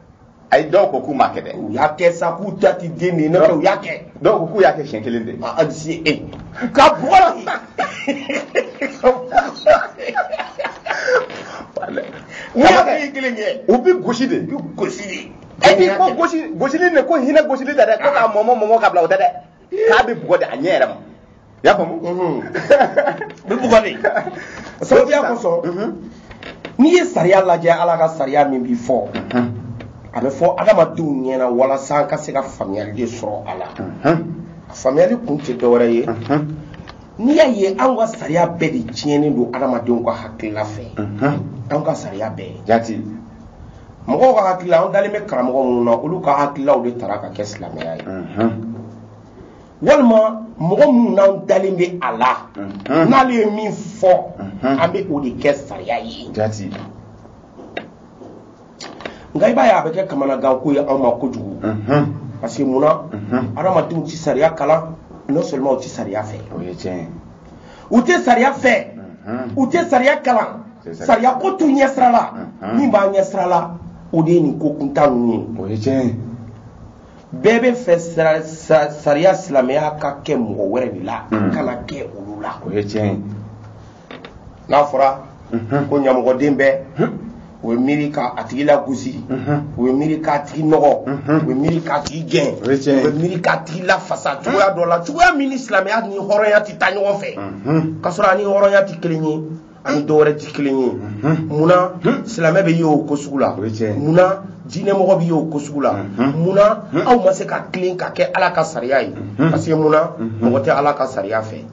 a ye dɔw ko k'u m'a kɛ dɛ u y'a kɛ sa k'u da ti den de ye nɔfɛ u y'a kɛ dɔw ko k'u y'a kɛ siɲɛ kelen de a ni se e ka bugɔ la n'i y'a kɛ i kelen kɛ u bɛ gosi de u bɛ gosi de e k'i ko gosi gosili de ko hinɛ gosili tɛ dɛ ko k'a mɔmɔ mɔmɔ k'a bila o tɛ dɛ k'a bɛ bugɔ de a ɲɛ yɛrɛ ma i y'a faamu bɛ bugɔ de sababuya kosɔn n'i ye sariya lajɛ ala ka sariya min bɛ fɔ a bɛ fɔ adamadenw ɲɛna walasa an ka se ka faamuyali de sɔrɔ a la a faamuyali kun tɛ dɔwɛrɛ ye n'i y'a ye anw ka sariya bɛɛ de tiɲɛnen don adamadenw ka hakilila fɛ anw ka sariya bɛɛ jati mɔgɔw ka hakilila an dalen bɛ karamɔgɔ minnu na olu ka hakililaw de tara ka kɛ silamɛya ye walima mɔgɔ minnu n'an dalen bɛ a la n'ale ye min fɔ an bɛ o de kɛ sariya ye nka i b'a ye a bɛ kɛ kamanaganko ye anw ma kojugu parce que munna adamadenw tɛ sariya kalan non seulement u tɛ sariya fɛ u tɛ sariya fɛ u tɛ sariya kalan sariya ko t'u ɲɛsira la min b'a ɲɛsira la o de ye nin ko kuntan ninnu ye bɛɛ b'a fɛ sariya silamɛya ka kɛ mɔgɔ wɛrɛ de la a kana kɛ olu la n'a fɔra ko ɲamɔgɔden bɛɛ u bɛ miiri ka a tigi lagosi u bɛ miiri k'a tigi nɔgɔ u bɛ miiri k'a tigi gɛn O ye tiɲɛ ye. u bɛ miiri k'a tigi lafasa cogoya dɔ la cogoya min ni silamɛya ni hɔrɔnya tɛ taa ɲɔgɔn fɛ k'a sɔrɔ a ni hɔrɔnya tɛ kelen ye a ni dɔ wɛrɛ tɛ kelen ye munna silamɛ bɛ ye o ko sugu la O ye tiɲɛ ye. munna diinɛmɔgɔ bɛ ye o ko sugu la munna aw ma se ka tilen ka kɛ ala ka sariya ye parce que munna mɔgɔ tɛ ala ka sariya fɛ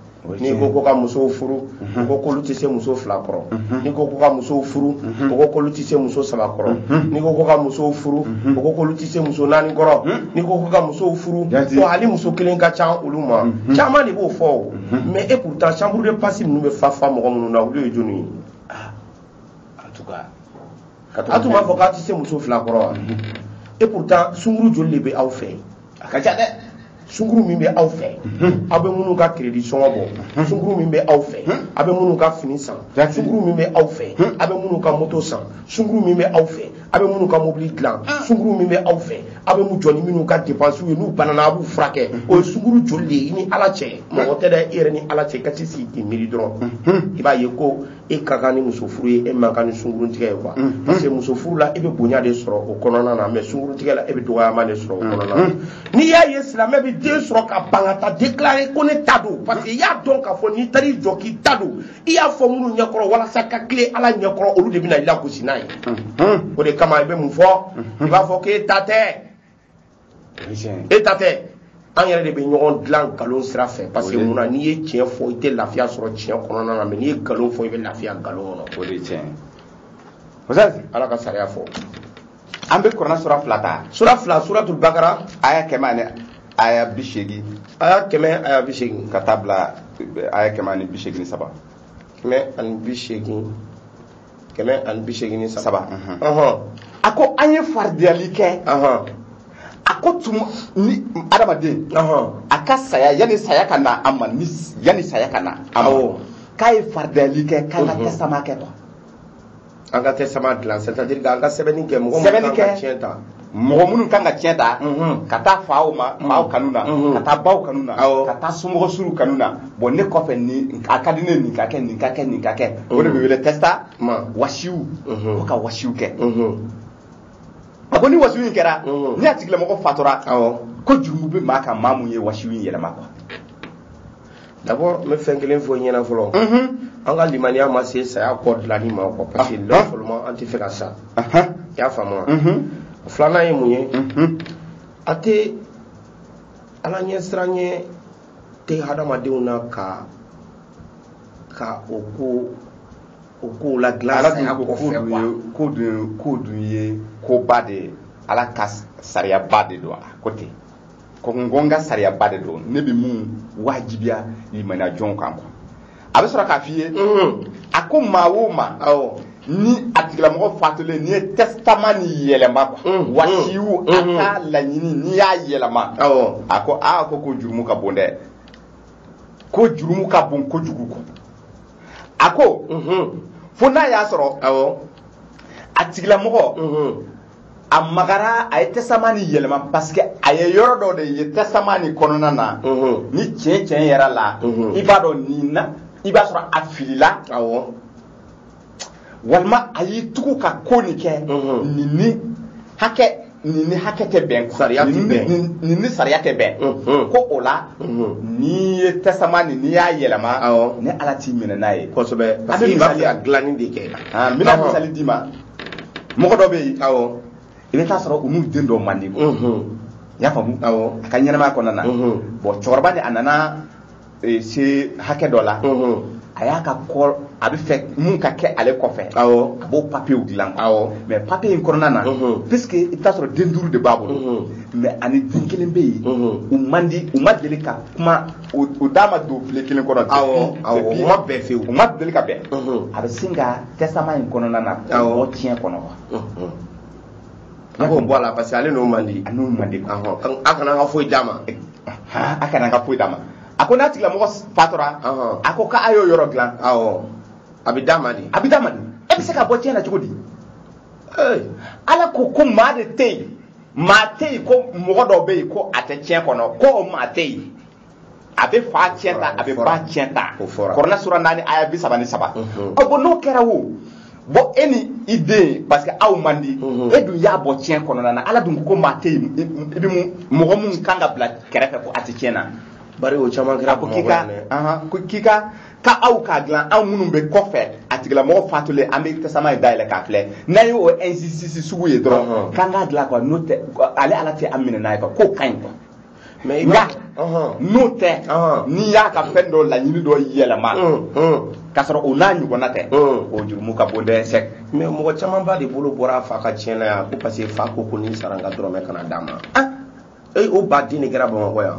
n'i ko ko ka musow furu ko k'olu tɛ se muso fila kɔrɔ n'i ko ko ka musow furu ko k'olu tɛ se muso saba kɔrɔ n'i ko ko ka musow furu ko k'olu tɛ se muso naani kɔrɔ n'i ko ko ka musow furu ko hali muso kelen ka ca olu ma caman de b'o fɔ o mais et pourtant chambre de passe ninnu bɛ fa fa mɔgɔ minnu na olu ye jɔni ye a tun m'a fɔ k'a tɛ se muso fila kɔrɔ wa et pourtant sunkuru joli de bɛ aw fɛ yen a ka ca dɛ sunkuru min bɛ aw fɛ aw bɛ minnu ka kiredi sɔngɔ bɔ sunkuru min bɛ aw fɛ aw bɛ minnu ka fini san sunkuru min bɛ aw fɛ aw bɛ minnu ka moto san sunkuru min bɛ aw fɛ aw bɛ minnu ka mobili dilan sunkuru min bɛ aw fɛ aw bɛ jɔ ni minnu ka depansiw ye n'u banana aw b'u furakɛ o ye sunkuru joli de ye i ni ala cɛ mɔgɔ tɛ dɛ i yɛrɛ ni ala cɛ i ka t'i sigi k'i miiri dɔrɔn i b'a ye ko e ka kan ni muso furu ye e man kan ni sungurun tigɛ ye quoi mm-hmm. parce que muso furu la e bɛ bonya de sɔrɔ o kɔnɔna na mais sungurun tigɛ la e bɛ dɔgɔyama de sɔrɔ o kɔnɔna na mm-hmm. n'i y'a ye silamɛ bɛ den sɔrɔ ka ban ka taa déclarer ko ne ta don parce que i y'a dɔn k'a fɔ n'i taar'i jɔ k'i ta don i y'a fɔ minnu ɲɛkɔrɔ walasa ka tilen ala ɲɛkɔrɔ olu de bɛna i lagosi n'a ye mm-hmm. o de kama i bɛ mun fɔ i b'a fɔ k'e ta tɛ e ta tɛ an yɛrɛ de bɛ ɲɔgɔn dilan nkalon sira fɛ parce que mun na n'i ye tiɲɛ fɔ i tɛ lafiya sɔrɔ tiɲɛ kɔnɔna na mais n'i ye nkalon fɔ i bɛ lafiya nkalon kɔnɔ o de ye tiɲɛ ye ala ka sariya fɔ an bɛ kuranɛ sura fila ta sura fila suratul bakara aya kɛmɛ ani aya bi seegin aya kɛmɛ aya bi seegin ka taa bila aya kɛmɛ ani bi seegin ni saba kɛmɛ ani bi seegin kɛmɛ ani bi seegin ni saba a ko an ye faridiyali kɛ a ko tuma ni adamaden a ka saya yanni saya ka na a ma ni yanni saya ka na a ma k'a ye faridiyali kɛ k'an ka testament kɛ quoi an ka testament dilan c'est à dire k'an ka sɛbɛnni kɛ mɔgɔ min ka tiɲɛ ta mɔgɔ minnu kan ka tiɲɛ ta mhm. ka taa faw ma mhm. faw kanu na mhm. ka taa baw kanu na ka taa somɔgɔ surun kanu na bon ne kɔfɛ ni a ka di ne nin ka kɛ nin ka kɛ nin ka kɛ o de bɛ wele testa wasiw ko ka wasiw kɛ a ko ni wasiw in kɛra ni a tigilamɔgɔ fatura ko jurumu bɛ maa kan maa min ye wasiw in yɛlɛma quoi D'abord n bɛ fɛn kelen fɔ i ɲɛna fɔlɔ. Unhun. An ka limaniya ma se saya kɔ dilanni ma quoi parce que non seulement an tɛ fɛ ka sa. Ahan. I y'a faamu wa? Unhun. Filanan ye mun ye? Unhun. A tɛ Ala ɲɛ siranɲɛ tɛ hadamadenw na ka ka o ko o kow ladilan Ala dun saya ko kɔ ko fɛ dun quoi. ye ko dun ye ko dun ye koba de ye Ala ka sariyaba de don a ko ten. ko ko n ka sariyaba de don ne bɛ min wajibiya limaniya jɔnw kan quoi a bɛ sɔrɔ k'a f'i ye mm-hmm. a ko maa o maa ni a tigilamɔgɔ fatulen n'i ye testament nin yɛlɛma quoi mm-hmm. wasiw a mm-hmm. ka laɲini n'i y'a yɛlɛma a ko aa ko ko jurumu ka bon dɛ ko jurumu ka bon kojugu quoi a ko fo n'a y'a sɔrɔ a tigilamɔgɔ a magara a ye testament nin yɛlɛma parce que a ye yɔrɔ dɔ de ye testament nin kɔnɔna na mhm. ni tiɲɛ tiɲɛ yɛrɛ la mhm. i b'a dɔn nin na i b'a sɔrɔ a filila awɔ walima a y'i tugu ka ko nin kɛ mhm. nin ni hakɛ nin ni hakɛ tɛ bɛn sariya tɛ bɛn nin ni sariya tɛ bɛn ko o la n'i ye testament nin n'i y'a yɛlɛma ne ala t'i minɛ n'a ye kosɛbɛ parce que i b'a fɛ ka dilanni de kɛ a n bɛna misali d'i ma mɔgɔ dɔ bɛ yen awɔ i bɛ taa sɔrɔ u n'u den dɔw man di ko n y'a faamu awɔ a ka ɲɛnamaya kɔnɔna na bɔn cɛkɔrɔba ni a nana eh, se hakɛ dɔ la a y'a ka kɔ a bɛ fɛ min ka kɛ ale kɔfɛ awɔ a b'o papiyew dilan awɔ mais papiye in kɔnɔna na puisque i bɛ taa sɔrɔ den duuru de b'a bolo mais ani den kelen bɛ yen u man di u ma deli ka kuma u da ma don filen kelen kɔnɔ awɔ awɔ u ma bɛn fewu u ma deli ka bɛn a bɛ sin ka testament in kɔnɔna na awɔ tiɲɛ kɔnɔ wa a k'o bɔ a la parce que ale n'o man di a n'o man di awɔ a kana n ka foyi d'a ma a kana n ka foyi d'a ma a ko n'a tigilamɔgɔ fatura a ko k'a y'o yɔrɔ dilan awɔ a bɛ d'a ma de a bɛ d'a ma de e bɛ se ka bɔ tiɲɛ na cogo di ala ko ko maa de tɛ yen maa tɛ yen ko mɔgɔ dɔ bɛ yen ko a tɛ tiɲɛ kɔnɔ ko o maa tɛ yen a bɛ fa tiɲɛ ta a bɛ ba tiɲɛ ta kuranɛ sura naani aya bi saba ni saba mhm. ɔ bɔn n'o kɛra wo bɔn e ni i den parce que aw man di mhm. e dun y'a bɔ tiɲɛ kɔnɔna na ala dun ko maa tɛ yen i bɛ mun mɔgɔ min kan ka bila kɛrɛfɛ ko a tɛ tiɲɛ na bari o caman kɛra ko k'i ka k'i ka ka aw k'a dilan anw minnu bɛ kɔfɛ a tigilamɔgɔ fatulen an bɛ testament in dayɛlɛ k'a filɛ n'an ye o injustice sugu ye dɔrɔn k'an k'a dilan quoi n'o tɛ ale ala tɛ an minɛ n'a ye quoi k'o ka ɲi quoi mais nka n'o tɛ n'i y'a ka fɛn dɔ laɲini dɔ yɛlɛma k'a sɔrɔ o n'a ɲɔgɔnna tɛ o jurumu ka bon dɛ c'est mais mɔgɔ camanba de bolo bɔra a fa ka tiɲɛ na yan ko parce que fa ko ko ni n sara n ka dɔrɔmɛ kana d'a ma o ba den de kɛra bamakɔ yan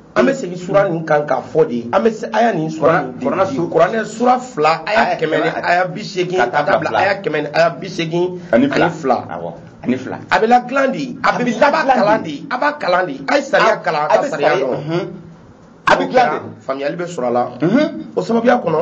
an bɛ segin sura nin kan k'a fɔ de an bɛ se aya nin sura nin kuranɛ su- kuranɛ sura fila aya Aya kɛmɛ ni kɛmɛ- aya bi seegin ka taa bila aya kɛmɛ ni aya bi seegin ani fila awɔ ani fila a bɛ ladilan de a bɛ a b'a kalan de a b'a kalan de a ye sariya kalan a ka bɛ sariya sariya- dɔn Mhm. a bɛ dilan de faamuyali bɛ sɔrɔ a la Mhm. o sababuya kɔnɔ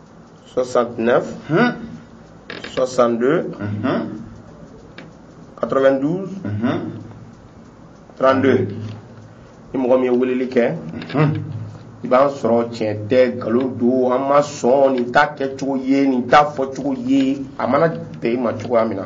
69. 62. 92. 32. ni mɔgɔ min ye weleli kɛ. i b'an sɔrɔ tiɲɛ tɛ nkalon don an ma sɔn nin t'a kɛcogo ye nin t'a fɔcogo ye a mana bɛn i ma cogoya min na.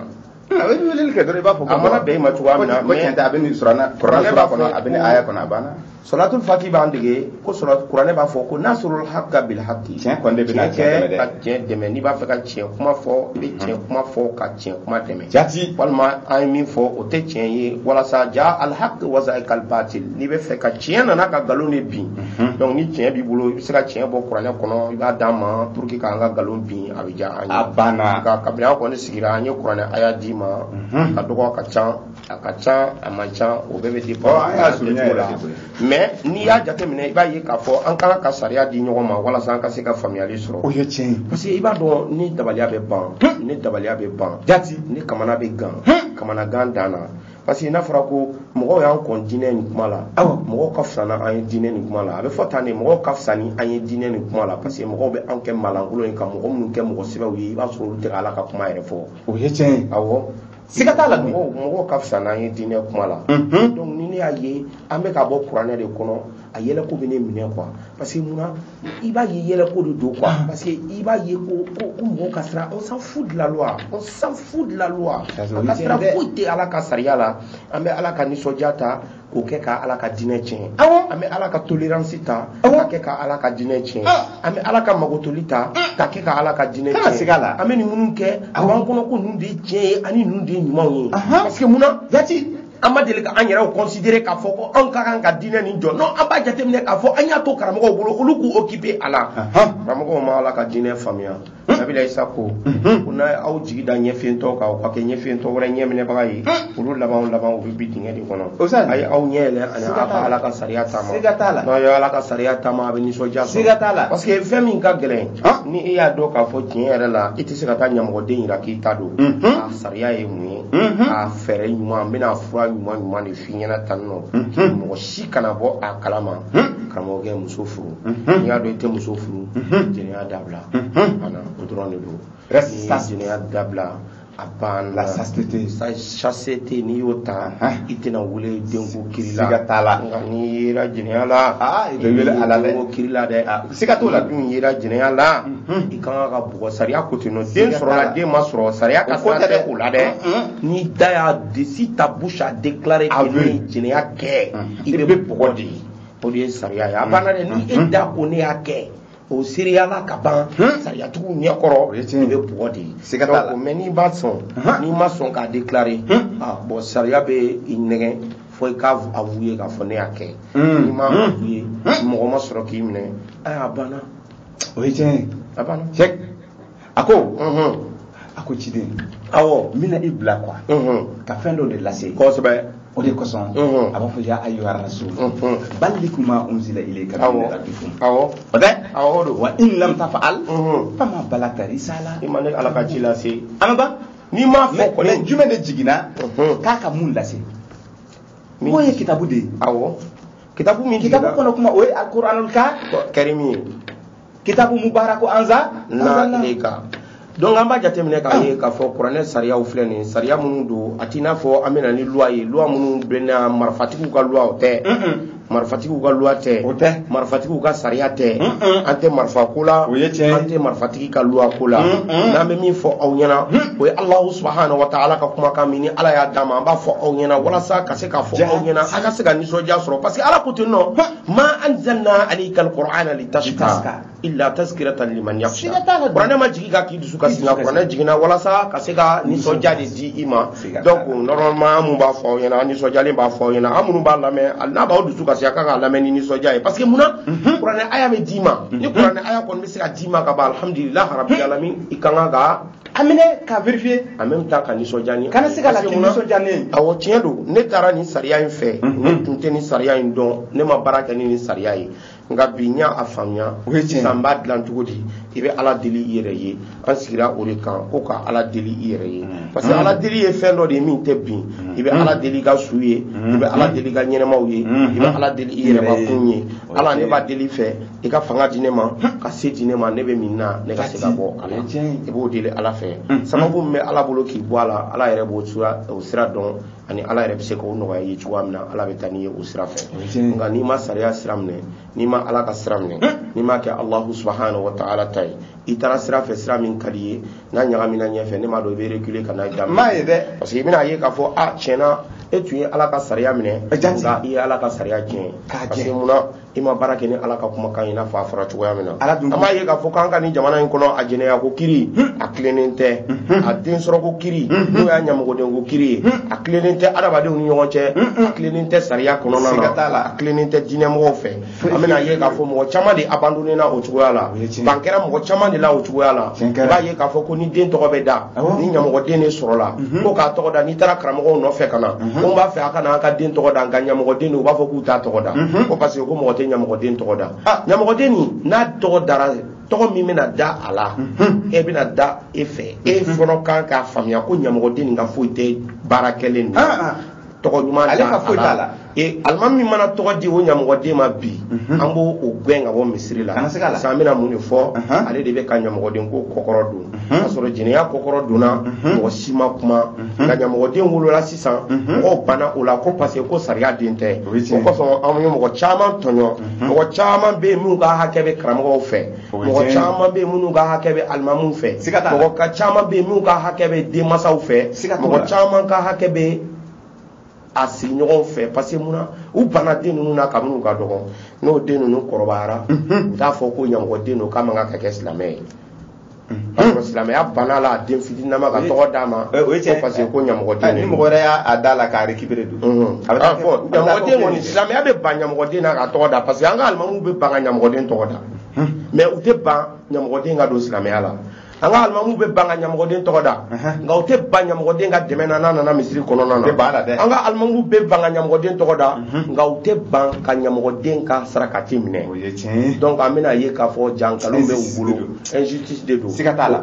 a bɛ weleli kɛ dɔrɔn i b'a fɔ a mana bɛn i ma cogoya min na mais a bɛ nin kuranɛ sura kɔnɔ a bɛ nin aya kɔnɔ a banna sɔlatul fati b'an dege ko kuranɛ b'a fɔ ko nasiril hakka bil hakki tiɲɛ kɔni de bɛna tiɲɛ dɛmɛ dɛ ka tiɲɛ dɛmɛ n'i b'a fɛ ka tiɲɛ kuma fɔ i bɛ tiɲɛ kuma fɔ ka tiɲɛ kuma dɛmɛ jati walima an ye min fɔ o tɛ tiɲɛ ye walasa ja al hakki wa zahakal batil n'i bɛ fɛ ka tiɲɛ nana ka nkalon de bin donc ni tiɲɛ b'i bolo i bɛ se ka tiɲɛ bɔ kuranɛ kɔnɔ i b'a d'a ma pour que k'an ka nkalon bin a a banna nka kabini an kɔni sigira an ye kuranɛ aya d'i ma a ka dɔgɔ a ka ca a ka ca a man ca o bɛɛ bɛ dépend mais n'i y'a jateminɛ i b'a ye k'a fɔ an kan ka sariya di ɲɔgɔn ma walasa an ka se ka faamuyali sɔrɔ o ye tiɲɛ parce que i b'a dɔn ne dabaliya bɛ ban ne dabaliya bɛ ban jati ne kamana bɛ gan kamanagan dan na parce que n'a fɔra ko mɔgɔw y'an kɔn diinɛ nin kuma la awa mɔgɔw ka fisa n'an ye diinɛ nin kuma la a bɛ fɔ tan de mɔgɔw ka fisa ni an ye diinɛ nin kuma la parce que mɔgɔw bɛ anw kɛ malankolon ye ka mɔgɔ minnu kɛ mɔgɔ sɛbɛw ye i b'a sɔrɔ olu tɛ ka ala ka kuma yɛrɛ fɔ o ye tiɲɛ ye awɔ siga t'a la dun mɔgɔw mɔgɔw ka fisa n'an ye diinɛ kuma la donc ni ne y'a ye an bɛ ka bɔ kuranɛ de kɔnɔ a yɛlɛko bɛ ne minɛ quoi parce que mun na i b'a ye yɛlɛ ko de don quoi ah. parce que i b'a ye ko ko ko mɔgɔw ka sira on s'en fout de la loi on s'en fout de la loi an ka sira foyi tɛ ala ka sariya la an bɛ ala ka nisɔndiya ta k'o kɛ ka ala ka diinɛ tiɲɛ awɔ an bɛ ala ka tolerance ta ka kɛ ka ala ka diinɛ tiɲɛ an bɛ ala ka magotoli ta ka kɛ ka ala ka diinɛ tiɲɛ an bɛ nin minnu kɛ a b'an kɔnɔ ko ninnu de ye tiɲɛ ye ani ninnu de ye ɲumanw ye parce que mun na jati an ma deli ka an yɛrɛw considérer k'a fɔ ko anw ka kan ka diinɛ nin jɔ non an b'a jateminɛ k'a fɔ an y'a to karamɔgɔw bolo olu k'u occuper a la karamɔgɔw ma ala ka diinɛ faamuya nabila isa ko ko n'aw ye aw jigi da ɲɛfiyentɔ kan u ka kɛ ɲɛfiyentɔ wɛrɛ ɲɛminɛbaga ye olu labanw laban u bɛ bin dingɛ de kɔnɔ a ye aw ɲɛ yɛlɛ ani aw ka ala ka sariya taama n'aw ye ala ka sariya taama aw bɛ nisɔndiya sɔrɔ parce que fɛn min ka gɛlɛn ni e y'a dɔn k'a fɔ tiɲɛ yɛrɛ la i tɛ se ka taa ɲamɔgɔden jira k'i t'a dɔn sariya ye mun ye a fɛɛrɛ ɲuman n bɛna fura ɲuman ɲuman de f'i ɲɛna tan nɔ mɔgɔ si kana bɔ a kalama karamɔgɔkɛ muso furu n'i y'a dɔn i tɛ muso furu jɛnɛya dabila ana o dɔrɔn de don ni jɛnɛya dabila a banna chasteté n'i y'o ta i tɛna wele denko kiri la nka n'i yera jɛnɛya la i bɛ wele ala denko kiri la dɛ siga t'o la dun yera jɛnɛya la i ka kan ka bugɔ sariya ko ten nɔ den sɔrɔla den ma sɔrɔ sariya ka sira tɛ o la dɛ n'i da y'a di si ta bouche a déclaré que ne ye jɛnɛya kɛ i bɛ bugɔ de o de ye sariya ye a banna dɛ ni e da ko ne y'a kɛ o seereyala ka ban sariyatigiw ɲɛ kɔrɔ i bɛ bugɔ de ye siga t'a la mais n'i b'a sɔn n'i ma sɔn k'a déclarer bon sariya bɛ i nɛgɛn fo i k'a avouer k'a fɔ ne y'a kɛ n'i m'a avouer mɔgɔ ma sɔrɔ k'i minɛ a banna o ye tiɲɛ ye a banna cɛ a ko a ko ciden awɔ n bɛna i bila quoi ka fɛn dɔ de lase kosɛbɛ o de kosɔn a b'a fɔ ya ayyuha rasul balligh ma unzila ilayka min rabbikum awɔ o tɛ awɔ don wa in lam taf'al fama ballaghta risala i ma ne ala ka ci lase an ba n'i m'a fɔ kɔni mais jumɛn de jiginna mhm. k'a ka mun lase k'o ye kitabu de ye awɔ kitabu min kitabu kɔnɔ kuma o ye alkuranul ka karimi ye kitabu mubaraku anzalna ilayka donc an b'a jateminɛ k'a ye k'a fɔ kuranɛ sariyaw filɛ nin sariya minnu don a t'i n'a fɔ an bɛ na ni luwa ye luwa minnu bɛna marifatigiw ka luwaw tɛ marifatigiw ka luwa tɛ o tɛ marifatigiw ka sariya tɛ an tɛ marifa ko la o ye tiɲɛ an tɛ marifatigi ka luwa ko la n'an bɛ min fɔ aw ɲɛna o ye alahu subahanahu wa taala ka kumakan min ni ala y'a d'an ma an b'a fɔ aw ɲɛna walasa ka se k'a fɔ aw ɲɛna a ka se ka nisɔndiya sɔrɔ parce que ala ko ten nɔ ma anzalna alaykal qur'ana litashqa illa tazkiratan liman yakhsha kuranɛ ma jigin ka k'i dusu kasi nka kuranɛ jiginna walasa ka se ka nisɔndiya de di i ma donc normalement an minnu b'a fɔ aw ɲɛna an nisɔndiyalen b'a fɔ aw ɲɛna aw minnu b'a lamɛn n'a b'aw dusu kasi a kan k'a lamɛn ni nisɔndiya ye parce que mun na kuranɛ aya bɛ d'i ma ni kuranɛ aya kɔni bɛ se ka d'i ma ka ban alhamdulilah rabil alamin i ka kan ka a minɛ ka vérifier en même temps ka nisɔndiya ni kana se ka lafiya nisɔndiya ne ye awɔ tiɲɛ don ne taara nin sariya in fɛ ne tun tɛ nin sariya in dɔn ne ma baara kɛ ni nin sariya ye nka bi n y'a faamuya sisan n b'a dilan cogo di i bɛ ala deli i yɛrɛ ye an sigira o de kan ko ka ala deli i yɛrɛ ye mm. parce que mm. ala deli ye fɛn dɔ de ye min tɛ bin mm. i bɛ ala deli i ka su ye i bɛ ala deli i ka ɲɛnamaw ye i bɛ ala deli i yɛrɛ kun ye ala ne b'a deli i fɛ i ka fanga di ne ma ka se di ne ma ne bɛ min na ne ka se ka bɔ a la i b'o deli ala fɛ sababu min bɛ ala bolo k'i bɔ a la ala yɛrɛ b'o sira dɔn ani ala yɛrɛ bɛ se k'o nɔgɔya i ye cogoya min na ala bɛ taa n'i ye o sira fɛ nka n'i ma sariya sira minɛ n'i ma ala ka sira minɛ n'i ma kɛ alahu subahanahu wa taala ta ye i taara sira fɛ sira min ka di i ye n'a ɲagamina ɲɛfɛ ne m'a dɔn i bɛ reculer ka n'a ye daminɛ m'a ye dɛ parce que i bɛna a ye k'a fɔ a tiɲɛna e tun ye ala ka sariya minɛ nka i ye ala ka sariya tiɲɛ parce que munna i ma baara kɛ ni ala ka kumakan ye i n'a fɔ a fɔra cogoya min na an b'a ye k'a fɔ k'an ka nin jamana in kɔnɔ a jɛnɛya ko kiri a tilennen tɛ a den sɔrɔ ko kiri n'o y'a ɲamɔgɔden ko kiri ye a tilennen tɛ adamadenw ni ɲɔgɔn cɛ a tilennen tɛ sariya kɔnɔna na a tilennen tɛ diinɛmɔgɔw fɛ an bɛna a ye k'a fɔ mɔgɔ caman de abandonnena o cogoya la ban kɛra mɔgɔ caman de la o cogoya la i b'a ye k'a fɔ ko ni den tɔgɔ bɛ da ni ɲamɔgɔden de sɔrɔla mhm. ko k'a tɔgɔ da n'i taara karamɔgɔw nɔfɛ ka na mhm. ko b'a fɛ a ka na an ka den tɔgɔ da nka ɲamɔgɔden u b'a fɔ k'u t'a tɔgɔ da mhm. ko parce que ko mɔgɔ tɛ ɲamɔgɔden tɔgɔ da ah. ɲamɔgɔden nin n'a tɔgɔ dara tɔgɔ min bɛna da a la e bɛna da e fɛ e fɔlɔ kan k'a faamuya ko ɲamɔgɔden nin ka foyi tɛ baara kɛlen na ah, ah. tɔgɔ ɲuman da a la e alimami mana tɔgɔ di o ɲamɔgɔden ma bi mhm. an b'o gɛn ka bɔ misiri la sa an bɛna mun de fɔ mhm. ale de bɛ ka ɲamɔgɔden ko kɔkɔrɔ don mhm. k'a sɔrɔ jɛnɛya kɔkɔrɔ donna mɔgɔ si ma kuma nka ɲamɔgɔden wolola sisan mɔgɔw banna o la ko parce que ko sariya den tɛ o kosɔn anw ye mɔgɔ caman tɔɲɔ mɔgɔ caman bɛ yen minnu ka hakɛ bɛ karamɔgɔw fɛ mɔgɔ caman bɛ yen minnu ka hakɛ bɛ alimamuw fɛ mɔgɔ caman bɛ yen minnu ka hakɛ bɛ denmansaw fɛ mɔgɔ caman ka hakɛ bɛ a sigiɲɔgɔn fɛ parce que mun na u banna den ninnu na kabini u ka dɔgɔn n'o den ninnu kɔrɔbayara u t'a fɔ ko ɲamɔgɔden don k'a man kan ka kɛ silamɛ ye parce que silamɛya banna a la den fitininama ka tɔgɔ d'a ma Eh, o ye tiɲɛ ko parce que ko ɲamɔgɔden ni de mɔgɔ don wɛrɛ y'a a da la k'a récupérer dun Mhm. a bɛ taa Ah, kɛ- bon, a bɛ taa ɲamɔgɔ kɛ den o kɔni kelen. silamɛya bɛ ban ɲamɔgɔden na k'a tɔgɔ da parce que an ka alimamuw bɛ ban ka ɲamɔgɔden tɔgɔ da mais u tɛ ban ɲamɔgɔden ka don silamɛya la an ka alimamu bɛ ban ka ɲamɔgɔden tɔgɔ da nka u tɛ ban ɲamɔgɔden ka dɛmɛ na n'a nana misiri kɔnɔna na an ka alimamu bɛ ban ka ɲamɔgɔden tɔgɔ da nka u tɛ ban ka ɲamɔgɔden ka sarakati minɛ donc an bɛna a ye k'a fɔ jaa nkalon bɛ u bolo injustice de don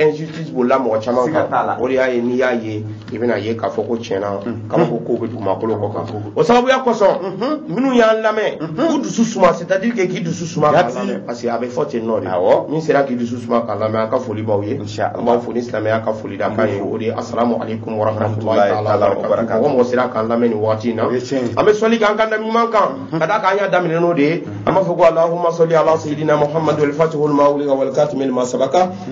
injustice bolila mɔgɔ caman kan o de y'a ye n'i y'a ye i bɛna a ye k'a fɔ ko tiɲɛ na mhm. kabako kow bɛ dugumakolo kɔ kan o sababuya kosɔn mhm. minnu y'an lamɛn mhm. k'u dusu suma c'est à dire que k'i dusu suma k'a lamɛn parce que a bɛ fɔ ten de awɔ min sera k'i dusu suma k'a lamɛn an ka foli b'aw ye an b'aw fo ni silamɛya ka foli da kan ye o de ye asalamu aleykum warahmatulahi taala wabarakatu mɔgɔ o mɔgɔ sera k'an lamɛn nin waati in na an bɛ sɔli k'an ka nabi ɲuman kan ka d'a kan an y'a daminɛ n'o de ye an b'a fɔ ko alahuma sɔli ala sayidina muhamadu alfatihi lima wulika walikatimi lima sabaka